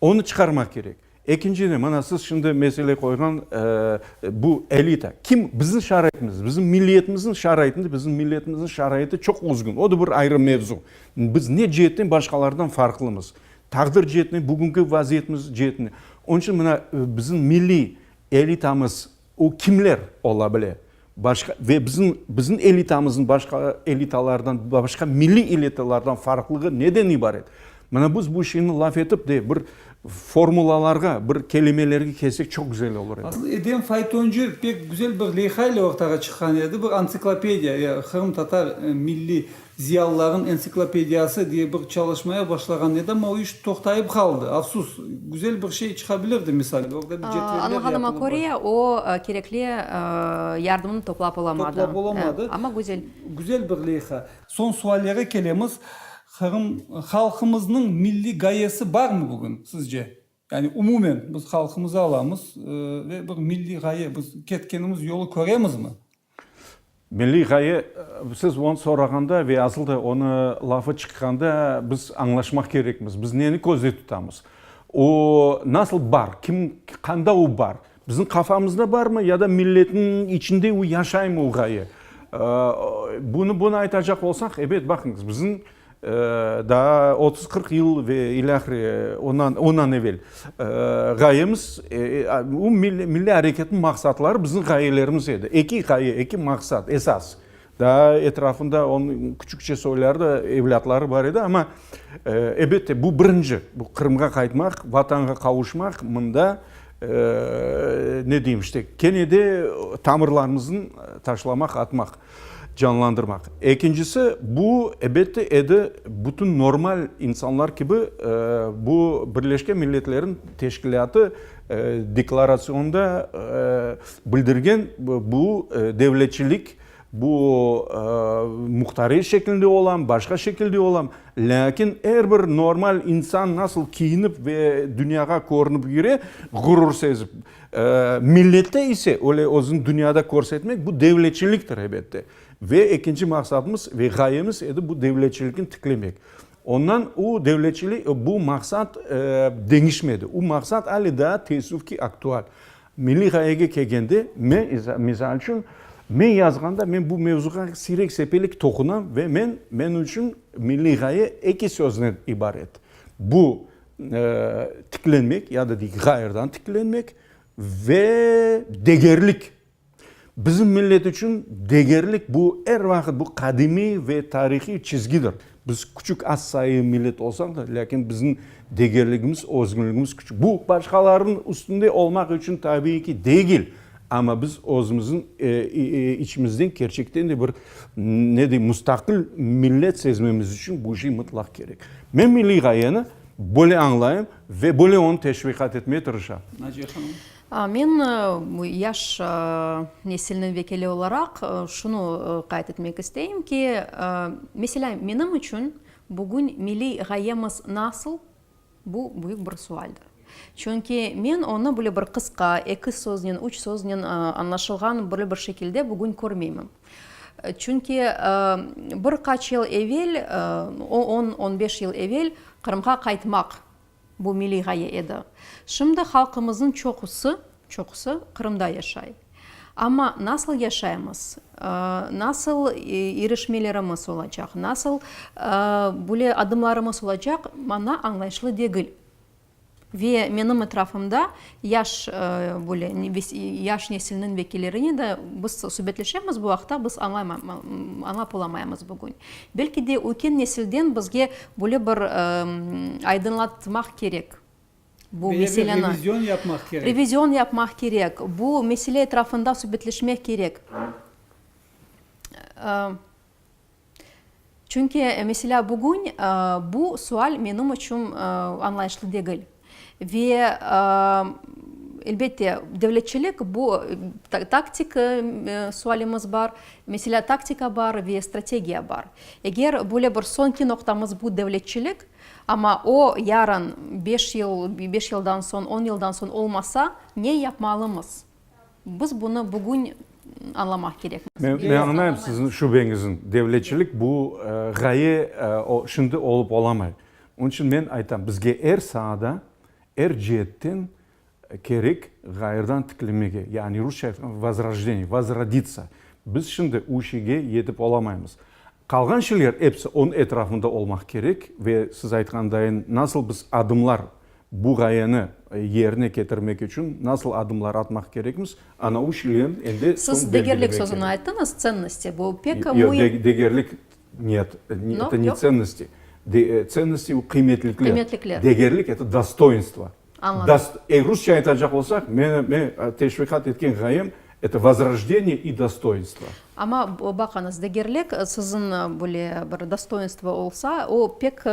Onı çıqarmaq kerek. Ekinciden, mana siz şimdi mesele qoyğan bu elita. Kim bizim şaraitimiz, bizim milliyetimizniñ şaraitinde, bizim milliyetimizniñ şaraiti çoq özgün. O da bir ayrı mevzu. Biz ne ceetten başqalardan farqlımız? Taqdir ceetinen, bugünki vaziyetimiz ceetinen. Onıñ içün mına bizim milliy elitamız, O kimler ola bile? Başqa, ve bizim, bizim elitamızın başqa elitalardan, başqa milliy elitalardan farqlığı neden ibaret? Mına biz bu şeyni laf etip de, bir formulalarğa, bir kelimelerge kelsek çoq güzel olur edi. Asıl Edem faytoncı pek güzel bir leyha ile ortağa çıqqan edi, bir antsiklopediya, ya, qırımtatar milliy Ziyalılarnıñ entsiklopediyası diye bir çalışmaya başlağan edim, o iş toqtayıp qaldı. Afsus. Güzel bir şey çıqabilirdi, misal, orda bir cedveller yapılıp. Añlağanıma köre, o kerekli yardımnı toplap olamadı. Toplap olamadı. Amma güzel. Güzel bir leyha. Soñ suallere kelemiz. Qırım halqımıznıñ milliy gayesi barmı bugün, sizce? Yani umumen biz halqımızı alamız ve bir milliy ğaye, biz ketkenimiz yolu köremizmi? Milliy ğaye, siz onı sorağanda ve asıl da onı lafı çıqqanda biz añlaşmaq kerekmiz, biz neni közde tutamız? O nasıl bar, kim, qanda o bar? Bizim qafamızda barmı ya da milletniñ içinde o yaşaymı o ğaye? Bunı, bunı aytacaq olsaq, ebet, baqıñız, bizim. Daa otuz-qırq yıl ve ilâhre ondan evel ğayemiz, milliy areketniñ maqsatları bizim ğayelerimiz edi. Eki ğaye, eki maqsat, esas. Daa etrafında onıñ küçükçe soyları da, evlâtları bar edi, amma elbette, bu birinci, bu Qırımğa qaytmaq, Vatanğa qavuşmaq, mında, ne deyim, işte, kene de tamırlarımıznı taşlamaq, atmaq. canlandırmaq. Ekincisi, bu, ebette, edi, bütün normal insanlar kibi, bu Birleşken Milletlerin Teşkilâtı deklaratsiyonında bildirgen bu devletçilik, bu muhtariy şekilde olam, başqa şekilde olam, lâkin er bir normal insan nasıl kiyinip ve dünyağa körünip yüre, ğurur sezip. Millette ise öyle özüni dünyada körsetmek bu devletçiliktir, ebette. Ve ekinci maqsadımız ve ğayemiz edi bu devletçilikni tiklemek. Ondan o devletçilik, bu maqsat deñişmedi. O maqsat ale daa teessüf ki aktual. Milliy ğayege kelgende, men, misal içün, men yazğanda men bu mevzuğa siyrek sepelik toqunam ve men, men içün milliy ğaye eki sözden ibaret. Bu tiklenmek ya da dey ğayrıdan tiklenmek ve degerlik. Bizim millet içün degerlik bu er vaqıt bu qadimiy ve tarihiy çizgidir. Biz küçük az sayı millet olsaq da, lâkin bizim degerligimiz, özgünligimiz küçük. Bu başqalarınıñ üstünde olmaq içün tabiiy ki, degil. Amma biz özümüzün içimizden kerçekten de bir, ne deyim, mustaqil millet sezmemiz içün bu şey mıtlaq kerek. Men milliy ğayeni böyle añlayım ve böyle onı teşviqat etmege tırışam. Naciye hanım. Men yaş nesilniñ vekili olaraq şunı qayd etmek isteyim ki, meselâ, menim içün bugün milliy ğayemiz nasıl, Bu büyük bir sualdir. Çünki men onı böyle bir qısqa, eki söznen, üç söznen añlaşılğan böyle bir şekilde bugün körmeyim. Çünki bir qaç yıl evel, on, on beş yıl evel Qırımğa qaytmaq, bu milliy ğaye edi. Şimdi halqımıznıñ çoqusı Çoqusı Qırımda yaşay. Amma nasıl yaşaymız, nasıl irişmelerimiz olacaq, nasıl böyle adımlarımız olacaq, maña añlayışlı degil. Ve menim etrafımda yaş böyle, yaş nesilniñ vekillerine de biz subetleşemiz bu aqta, biz añlap olamaymız bugün. Belki de ötken nesilden bizge böyle bir aydınlatmaq kerek. Bu meseleni, revizyon yapmaq kerek, bu mesele etrafında subetleşmek kerek. Çünki, meselâ, bugün bu sual menim içün añlayışlı degil. Ve, elbette, devletçilik, bu taktik sualimiz bar, meselâ, taktika bar ve strategiya bar. Eger böyle bir soñki noqtamız bu devletçilik, Amma o, yarın, beş yıl, beş yıldan soñ, on yıldan soñ olmasa, ne yapmalımız? Biz bunı bugün añlamaq kerek. Men, men añlayım siziñ şübeñiziñ. Devletçilik bu, ğaye, o, şimdi olıp olamay. Onıñ içün men aytam, bizge er saada, er ceetten Kerek ğayrıdan tiklemege, yani rusça vozrojdeniyye, vozroditsa. Biz şimdi u şeyge yetip olamaymız. Qalğan şeyler episi onıñ etrafında olmaq kerek ve siz aytqandayın, nasıl biz adımlar bu ğayeni yerine ketirmek içün nasıl adımlar atmaq kerekmiz, ana u şeylerniñ endi soñ belgilemek kerek. Siz degerlik sözüni ayttınız, tsennosti, bu pek müim. Yoq, degerlik, niyet, eto ne tsennosti, tsennosti, o qıymetlikler, degerlik, eto dostoinstvo. Anladım. Eğer rusça aytacaq olsaq, meni, men teşviqat etken ğayem, eto vozrojdeniye i dostoinstvo. Amma baqıñız, degerlik siziñ böyle bir dostoinstvo olsa, o pek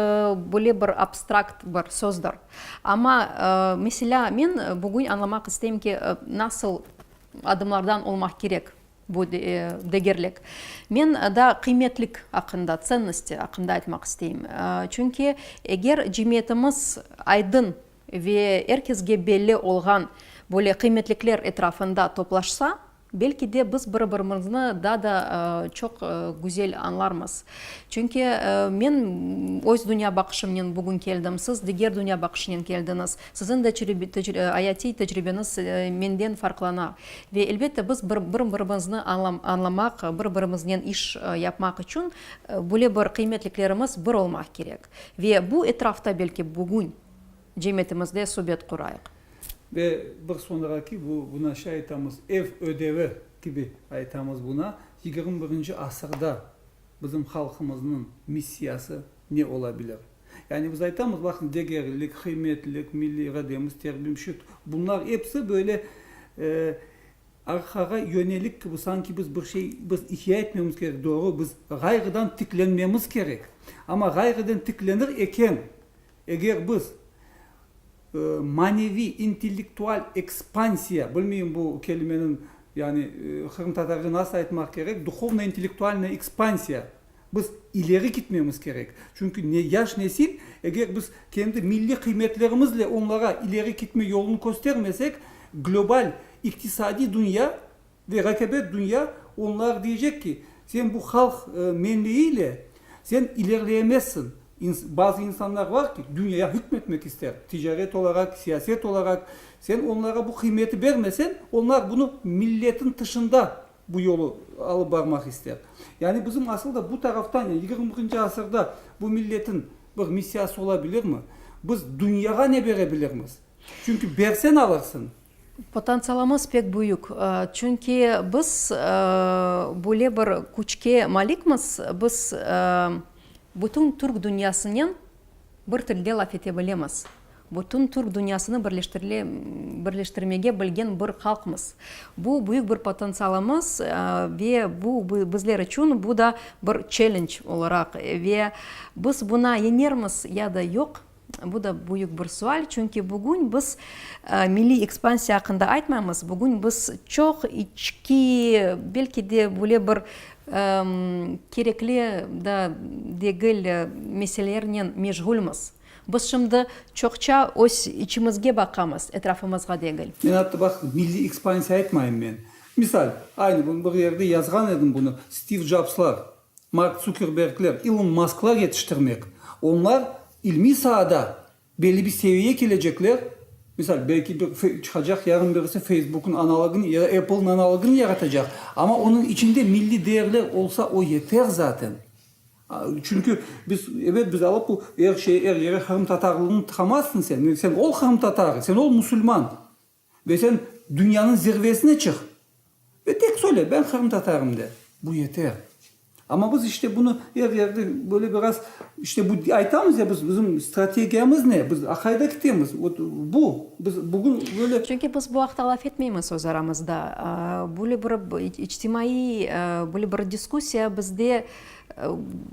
böyle bir abstrakt bir sözdir. Amma, meselâ, men bugün añlamaq isteyim ki, nasıl adımlardan olmaq kerek Bu degerlik. Men daa qıymetlik aqqında, tsennosti aqqında aytmaq isteyim. Çünki eger cemiyetimiz aydın ve er kesge belli olğan böyle qıymetlikler etrafında toplaşsa, belki de biz bir birimizni daa da çoq güzel añlarmız. Çünki men öz dünyabaqışımnen bugün keldim, siz diger dünyabaqışınen keldiñiz. Siziñ de ayatiy tecribeniz menden farqlana. Ve, elbette, biz bir-birimizni añlamaq, bir-birimiznen iş yapmaq içün böyle bir qıymetliklerimiz bir olmaq kerek. Ve bu etrafta belki bugün cemiyetimizde subet qurayıq. Ve bir soñraki, buna şey aytamız, ev ödevi kibi aytamız buna, yigirmi birinci asırda bizim halqımıznıñ missiyası ne ola bilir? Yani biz aytamız, baqıñ, degerlilik, qıymetlilik, milliy irademiz, terbim, şüt, bunlar episi böyle arqağa yönelik kibi, sanki biz bir şey, biz ihya etmemiz kerek, doğru, biz ğayrıdan tiklenmemiz kerek. Amma ğayrıdan tiklenir eken, eger biz maneviy, intellektual ekspansiya, bilmeyim bu kelimeniñ, yani qırımtatarca nasıl aytmaq kerek, duhovno-intellektualnoye ekspansiya, Biz ileri gitmemiz kerek. Çünki ne yaş nesil, eger biz kendi milliy qıymetlerimizle onlara ileri gitme yolunı köstermesek, global iqtisadiy dünya ve raqabet dünya onlar diyecek ki, sen bu halq menliğiyle sen ilerleyemezsin. Bazı insanlar var ki, dünyaya hükmetmek ister, ticaret olaraq, siyaset olaraq. Sen onlara bu qıymeti bermesen, onlar bunı milletin tışında. Bu yolu alıp barmaq ister. Yani bizim asıl da bu taraftan, yani yigirmi birinci asırda bu milletin bir missiyası ola bilirmi? Biz dünyağa ne bere bilirmiz? Çünki bersen alırsıñ. Potantsialımız pek büyük. Çünki biz böyle bir küçke malikmiz, biz bütün Türk dünyasınen, Bir tilde laf ete bilemiz. Bütün Türk dünyasını birleştirmege bilgen bir halqmız. Bu, büyük bir potentsialımız ve bu, bizler içün bu da bir çellenc olaraq ve biz buna yeñermiz ya da yoq, bu da büyük bir sual. Çünki bugün biz milliy ekspansiya aqqında aytmaymız, bugün biz çoq içki, belki de böyle bir Kerekli da degil meselelernen meşğulmiz. Biz şimdi çoqça öz içimizge baqamız, etrafımızğa degil. Men attı baq, milliy ekspansiya aytmayım men. Misal, aynı bugün bir yerde yazğan edim bunı, Stiv Jobslar, Mark Tsukerbergler, İlon Masklar yetiştirmek, onlar ilmiy saada Belli bir seviyeye kelecekler, misal, belki bir çıqacaq yarın birisi Facebook'nıñ analogını ya da Apple'nıñ analogını yaratacaq, amma onıñ içinde milliy değerler olsa, o yeter zaten. Çünki biz, ebet, biz alıp bu er şeye, er yere qırımtatarlığını tıqamazsıñ sen, sen ol qırımtatar, sen ol musulman. Ve sen dünyanıñ zirvesine çıq ve tek söyle, ben qırımtatarım, de. Bu yeter. Amma biz işte bunı er yerde böyle biraz, işte bu aytamız ya biz, bizim strategiyamız ne, biz aqayda kitemiz, ot bu, biz bugün böyle. Çünki biz bu aqta laf etmeymiz öz aramızda. Böyle bir içtimaiy böyle bir diskussiya bizde.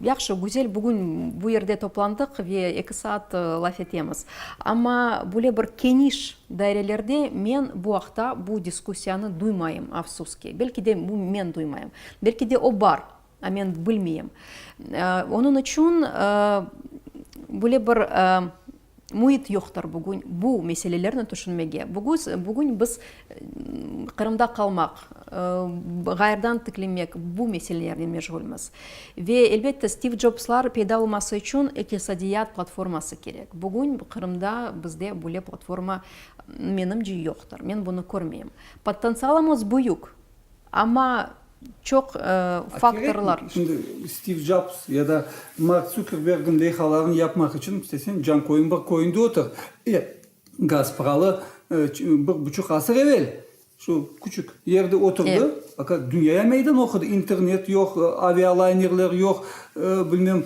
Yahşı, güzel, bugün bu yerde toplandıq ve eki saat laf etemiz. Amma böyle bir keniş dairelerde men bu aqta, bu diskussiyanı duymayım, afsus ki. Belki de bu men duymayım. Belki de o bar, amma men bilmeyim. Onıñ içün böyle bir Müit yoqtır bugün bu meselelerni tüşünmege. Bugüz, bugün biz Qırımda qalmaq, ğayrıdan tiklemek bu meselelernen meşğulmiz. Ve, elbette, Stiv Jobslar peyda olması içün iqtisadiyat platforması kerek. Bugün Qırımda bizde böyle platforma, menimce, yoqtır. Men bunı körmeyim. Potentsialımız büyük. Amma çoq faktorlar. Şimdi Stiv Jobs ya da Mark Zuckerbergniñ leyhalarını yapmaq içün istesen Cankoyun bir köyünde otur. E, Gaspıralı bir buçuq asır evel şu küçük yerde oturdı, faqat dünyaya meydan oqudı, internet yoq, avialaynerler yoq, bilmem,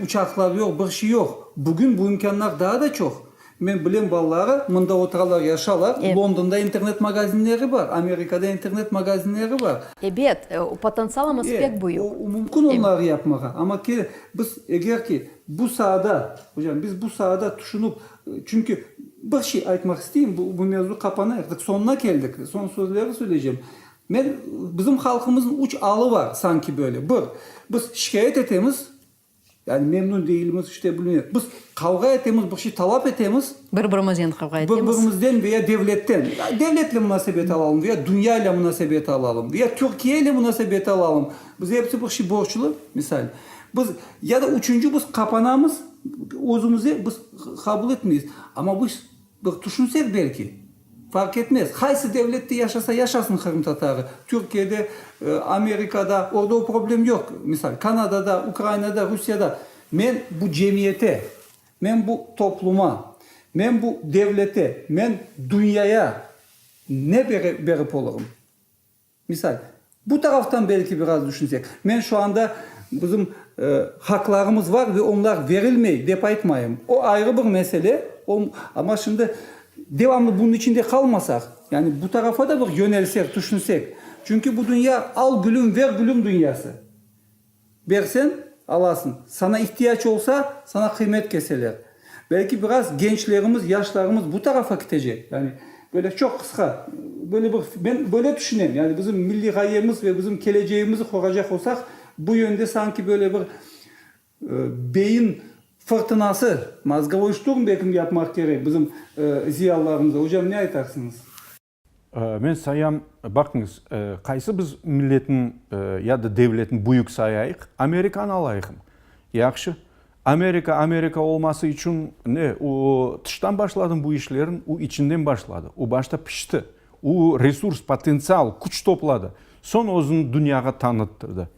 uçaqlar yoq, bir şey yoq. Bugün bu imkânlar daa da çoq. Men bilem balaları mında oturalar, yaşalar. Londonda internet magazinleri bar, Amerikada internet magazinleri bar. Ebet, o potentsialımız pek büyük. O mümkün onları yapmağa, amma ki biz eger ki bu saada, hocam, biz bu saada tüşünip, çünki bir şey aytmaq isteyim, bu bu mevzu qapanay, artıq soñuna keldik, soñ sözleri söyleycem. Men, bizim halqımıznıñ üç alı bar, sanki böyle. Bir, biz şikâyet etemiz, Yani memnün deyilmiz, işte bilmem. Biz qavğa etemiz, bir şey talap etemiz. Bir-birimizden qavğa etemiz. Bir-birimizden veya devletten. Devletle munasebet alalım veya dünya ile munasebet alalım veya Türkiye ile munasebet alalım. Biz hepsi bir şey borçlu, misal. Biz, ya da üçünci, biz qapanamız özümüze, biz qabul etmeyiz. Amma biz. Bir tüşünsek belki, farq etmez, qaysı devlette yaşasa yaşasın qırımtatarı, Türkiyede, Amerikada, orda o problem yoq, misal, Kanadada, Ukrainada, Rusiyada, men bu cemiyete, men bu topluma, men bu devlete, men dünyaya ne berip olurım? Misal, bu taraftan belki biraz düşünsek, men şu anda bizim haqlarımız var ve onlar verilmey dep aytmayım. O ayrı bir mesele, o, amma şimdi devamlı bunun içinde qalmasaq, yani bu tarafa da bir yönelsek, tüşünsek, çünki bu dünya al gülüm, ver gülüm dünyası. Bersen, alasıñ. Sana ihtiyac olsa, sana qıymet keseler. Belki biraz gençlerimiz, yaşlarımız bu tarafa kitecek. Yani, böyle çoq qısqa, böyle bir, men böyle tüşünem. Yani, bizim milliy ğayemiz ve bizim kelecegimizni qoracaq olsaq, bu yönde sanki böyle bir beyin fırtınası, mozgovoi şturm belki yapmaq kerek bizim ziyalılarımıza. Ocam, ne aytarsıñız? Men sayam, baqıñız, qaysı biz milletni ya da devletni büyük sayayıq, Amerikanı alayıqmı? Yahşı, Amerika, Amerika olması içün ne, o tıştan başladımı bu işlerin? O içinden başladı, o başta pişti, o resurs, potentsial, küç topladı, soñ özüni dünyağa tanıttırdı.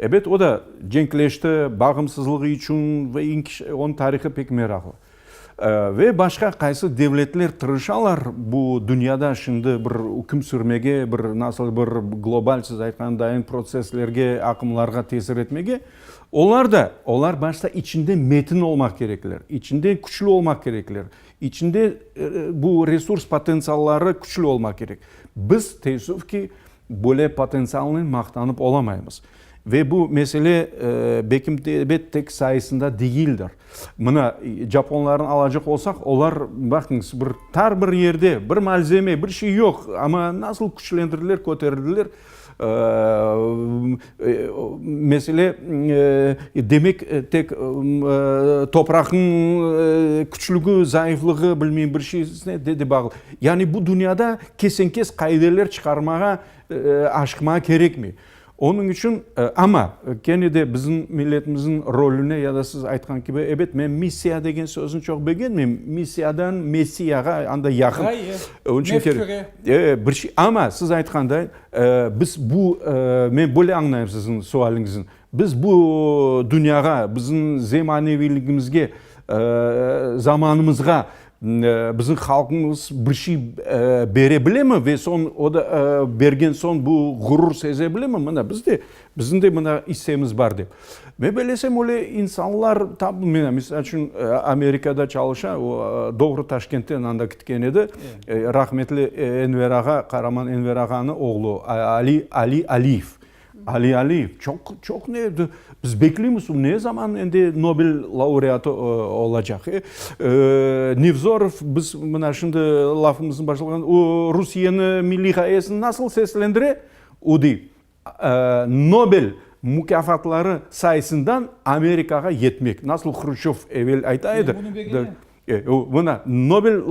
Ebet, o da cenkleşti, bağımsızlığı içün ve onıñ tarihı pek meraqlı. Ve başqa qaysı devletler tırışalar bu dünyada şimdi bir üküm sürmege, bir nasıl bir global, siz aytqandayin, protsesslerge, aqımlarğa tesir etmege, olar da, olar başta içinde metin olmaq kerekler, içinde küçlü olmaq kerekler, içinde bu resurs potentsialları küçlü olmaq kerek. Biz, teessüf ki, Böyle potentsialnen maqtanıp olamaymız. Ve bu mesele Bekimtebet tek sayısında degildir. Mına, japonlarnı alacaq olsaq, olar, baqıñız, bir tar bir yerde, bir malzeme, bir şey yoq, amma nasıl küçlendirdiler, köterildiler. Mesele, demek, tek topraqnıñ küçlügi, zayıflığı, bilmeyim, bir şeysine de bağlı. Yani bu dünyada kesen-kes qaideler çıqarmağa, aşıqmağa kerekmey. Onıñ içün, amma kene de bizim milletimizniñ rolüne ya da siz aytqan kibi, ebet, men missiya degen sözni çoq begenmeyim, missiyadan messiyağa anda yaqın. Hayır, mefküre. Amma siz aytqanday, Biz bu, men böyle añlayım siziñ sualiñizni, biz bu dünyağa, biziñ zemaneviyligimizge, zamanımızğa biziñ halqımız bir şey bere bilemi ve soñ, o da bergen soñ bu ğurur seze bilemi? Mına, biz de Bizim de mına issemiz bar dep. Men belesem öyle insanlar tabu mına misal içün Amerikada çalışa, o doğru Taşkentten anda kitken edi, rahmetli Enver ağa, Qaraman Enver ağanı oğlu Ali, Ali Aliyev, Ali Aliyev çoq, çoq ne edi, biz bekleymiz o ne zaman endi Nobel laureatı olacaq. E, Nevzorov biz mına şimdi lafımızın başlığında o Rusiyeni milliy ğayesini nasıl seslendire o dey. Nobel mukâfatları sayısından Amerikağa yetmek, nasıl Hruşçov evel ayta edi, mına, Nobel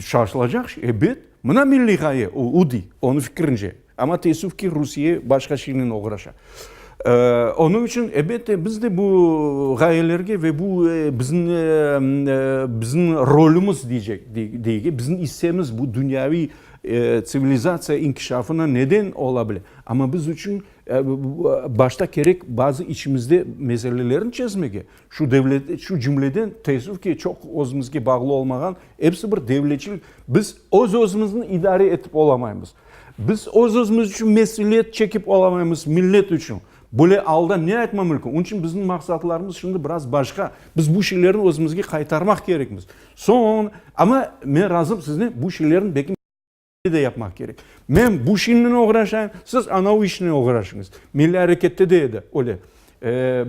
çalışılacaq, ebet, mına milliy ğaye, o dey, onıñ fikirince. Amma teessüf ki, Rusiye başqa şeynen oğraşa. Onıñ içün, ebette, biz de bu ğayelerge ve bu bizim rolümüz, deyge, bizim issemiz, bu dünyaviy, Tsivilizatsiya inkişafına neden ola bile, amma biz içün başta kerek bazı içimizde meselelerni çezmege, şu devlet, şu cümleden, teessüf ki, çoq özümizge bağlı olmağan episi bir devletçilik, biz öz-özümizni idare etip olamaymız, biz öz-özümiz içün mesüliet çekip olamaymız millet içün, böyle alda ne aytma mümkün? Onıñ içün bizim maqsatlarımız şimdi biraz başqa, biz bu şeylerni özümizge qaytarmaq kerekmiz. Soñ, amma men razım siznen, bu şeylerni belki millârekette de yapmaq kerek. Men bu şeynen oğraşayım, siz anav işnen oğraşıñız. Millârekette de edi öyle.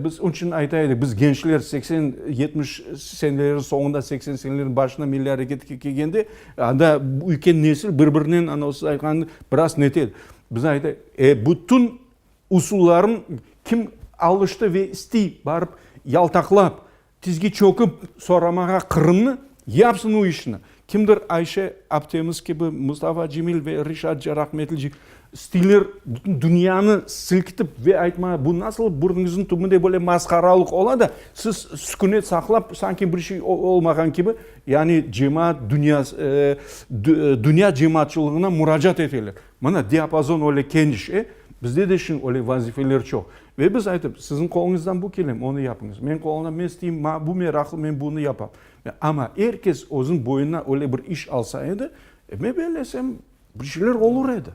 Biz onıñ içün ayta edik, biz gençler seksen, yetmiş senelerniñ soñunda, seksen senelerniñ başında millâreketke kelgende, anda ülken nesil bir birinen anav siz aytqan biraz nete edi. Biz ayta edik, e, bütün usullarnı kim alıştı ve isti, barıp yaltaqlap, Tizge çökip soramağa Qırımnı, yapsın u işni. Kimdir Ayşe aptemiz kibi, Mustafa Cemil ve Reşat Cerahmetlici stiller bütün dünyanı silkitip ve aytmağa, bu nasıl burnuñızın tübünde böyle masqaralıq ola da, siz sükünet saqlap, sanki bir şey olmağan kibi, yani cemaat dünyas, dünya cemaatçılığına muracaat eteler. Mına diapazon öyle keniş, e, bizde de şimdi öyle vazifeler çoq. Ve biz aytıp, siziñ qoluñızdan bu kele, onı yapıñız, meñ qolumdan men isteyim, maña bu meraqlı, men bunı yapam. Amma er kes özüñ boyuna öyle bir iş alsa edi, men bellesem, bir şeyler olur edi.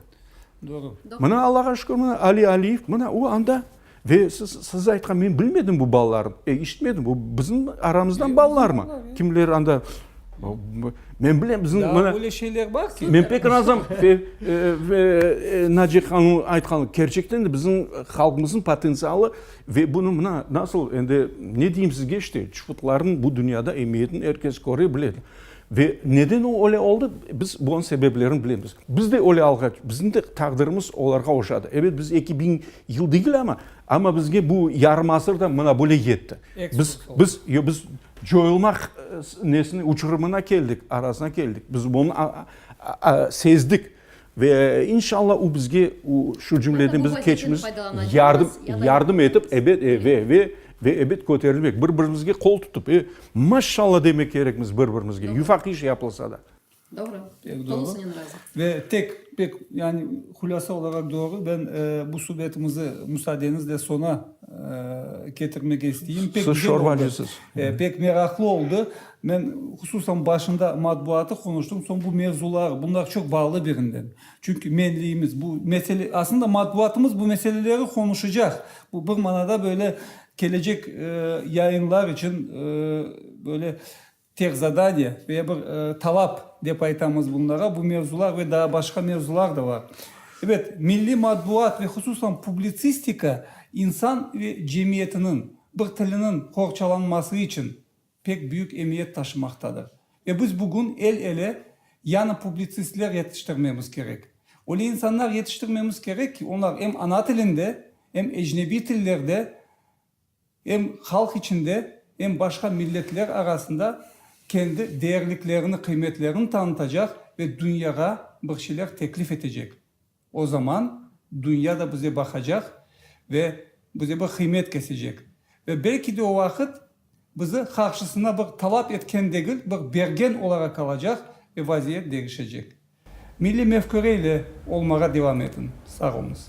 Doğru. Mına Allağa şükür, mına Ali Aliyev, mına o anda. Ve siz, siz aytqan, men bilmedim bu balalarnı, e, işitmedim, bu bizim aramızdan balalarmı? Kimler anda Men bilem, bizim mına... Daa öyle şeyler bar ki. Men pek razım. Ve Naci hanımnıñ aytqanı, kerçekten de bizim halqımıznıñ potentsialı ve bunı mına nasıl, endi ne deyim sizge işte, çıfıtlarnıñ bu dünyada emiyetini er kes köre bile. Ve neden o öyle oldı, biz bunıñ sebeplerini bilemiz. Biz de öyle alğa, bizim de taqdirimiz olarğa oşadı. Evet, biz eki biñ yıl degil ama, amma bizge bu yarım asır da mına böyle yetti. Biz, biz, yo biz, Coyulmaq nesine, uçurımına keldik, arasına keldik. Biz bunı sezdik. Ve inşallah o bizge şu cümleden bizim keçimiz yardım etip, ebet, ve ebet köterilmek, bir birimizge qol tutıp, maşallah demek kerekmiz bir birimizge, yufaq iş yapılsa da. Doğru. Pek doğru. Tolusınen razı. Ve tek, pek, yani hulâsa olaraq doğru. Ben bu subetimizi müsaadeñizle soña ketirmege isteyim. Pek Siz şorba güzel oldı. acısız. E, pek meraqlı oldı. Men hususan başında matbuatı konuştım. Soñ bu mevzular, bunlar çok bağlı birinden. Çünkü menliyimiz bu mesele, aslında matbuatımız bu meseleleri konuşacaq. Bu bir manada böyle kelecek e, yayınlar için e, böyle Tek zadaniye ve bir talap dep aytamız bunlara, bu mevzular ve daa başqa mevzular da bar. Ebet, milliy matbuat ve hususan publitsistika insan ve cemiyetiniñ bir tiliniñ qorçalanması içün pek büyük emiyet taşımaqtadır. Ve biz bugün el-ele yañı publitsistler yetiştirmemiz kerek. Öyle insanlar yetiştirmemiz kerek ki, onlar em ana tilinde, em ecnebiy tillerde, Em halq içinde, em başqa milletler arasında kendi değerliklerini, qıymetlerini tanıtacaq ve dünyağa bir şeyler teklif etecek. O zaman dünya da bize baqacaq ve bize bir qıymet kesecek. Ve belki de o vaqıt bizi qarşısına bir talap etken degil, bir bergen olaraq qalacaq ve vaziyet degişecek. Milliy mefküre ile olmağa devam etiñ. Sağ oluñız.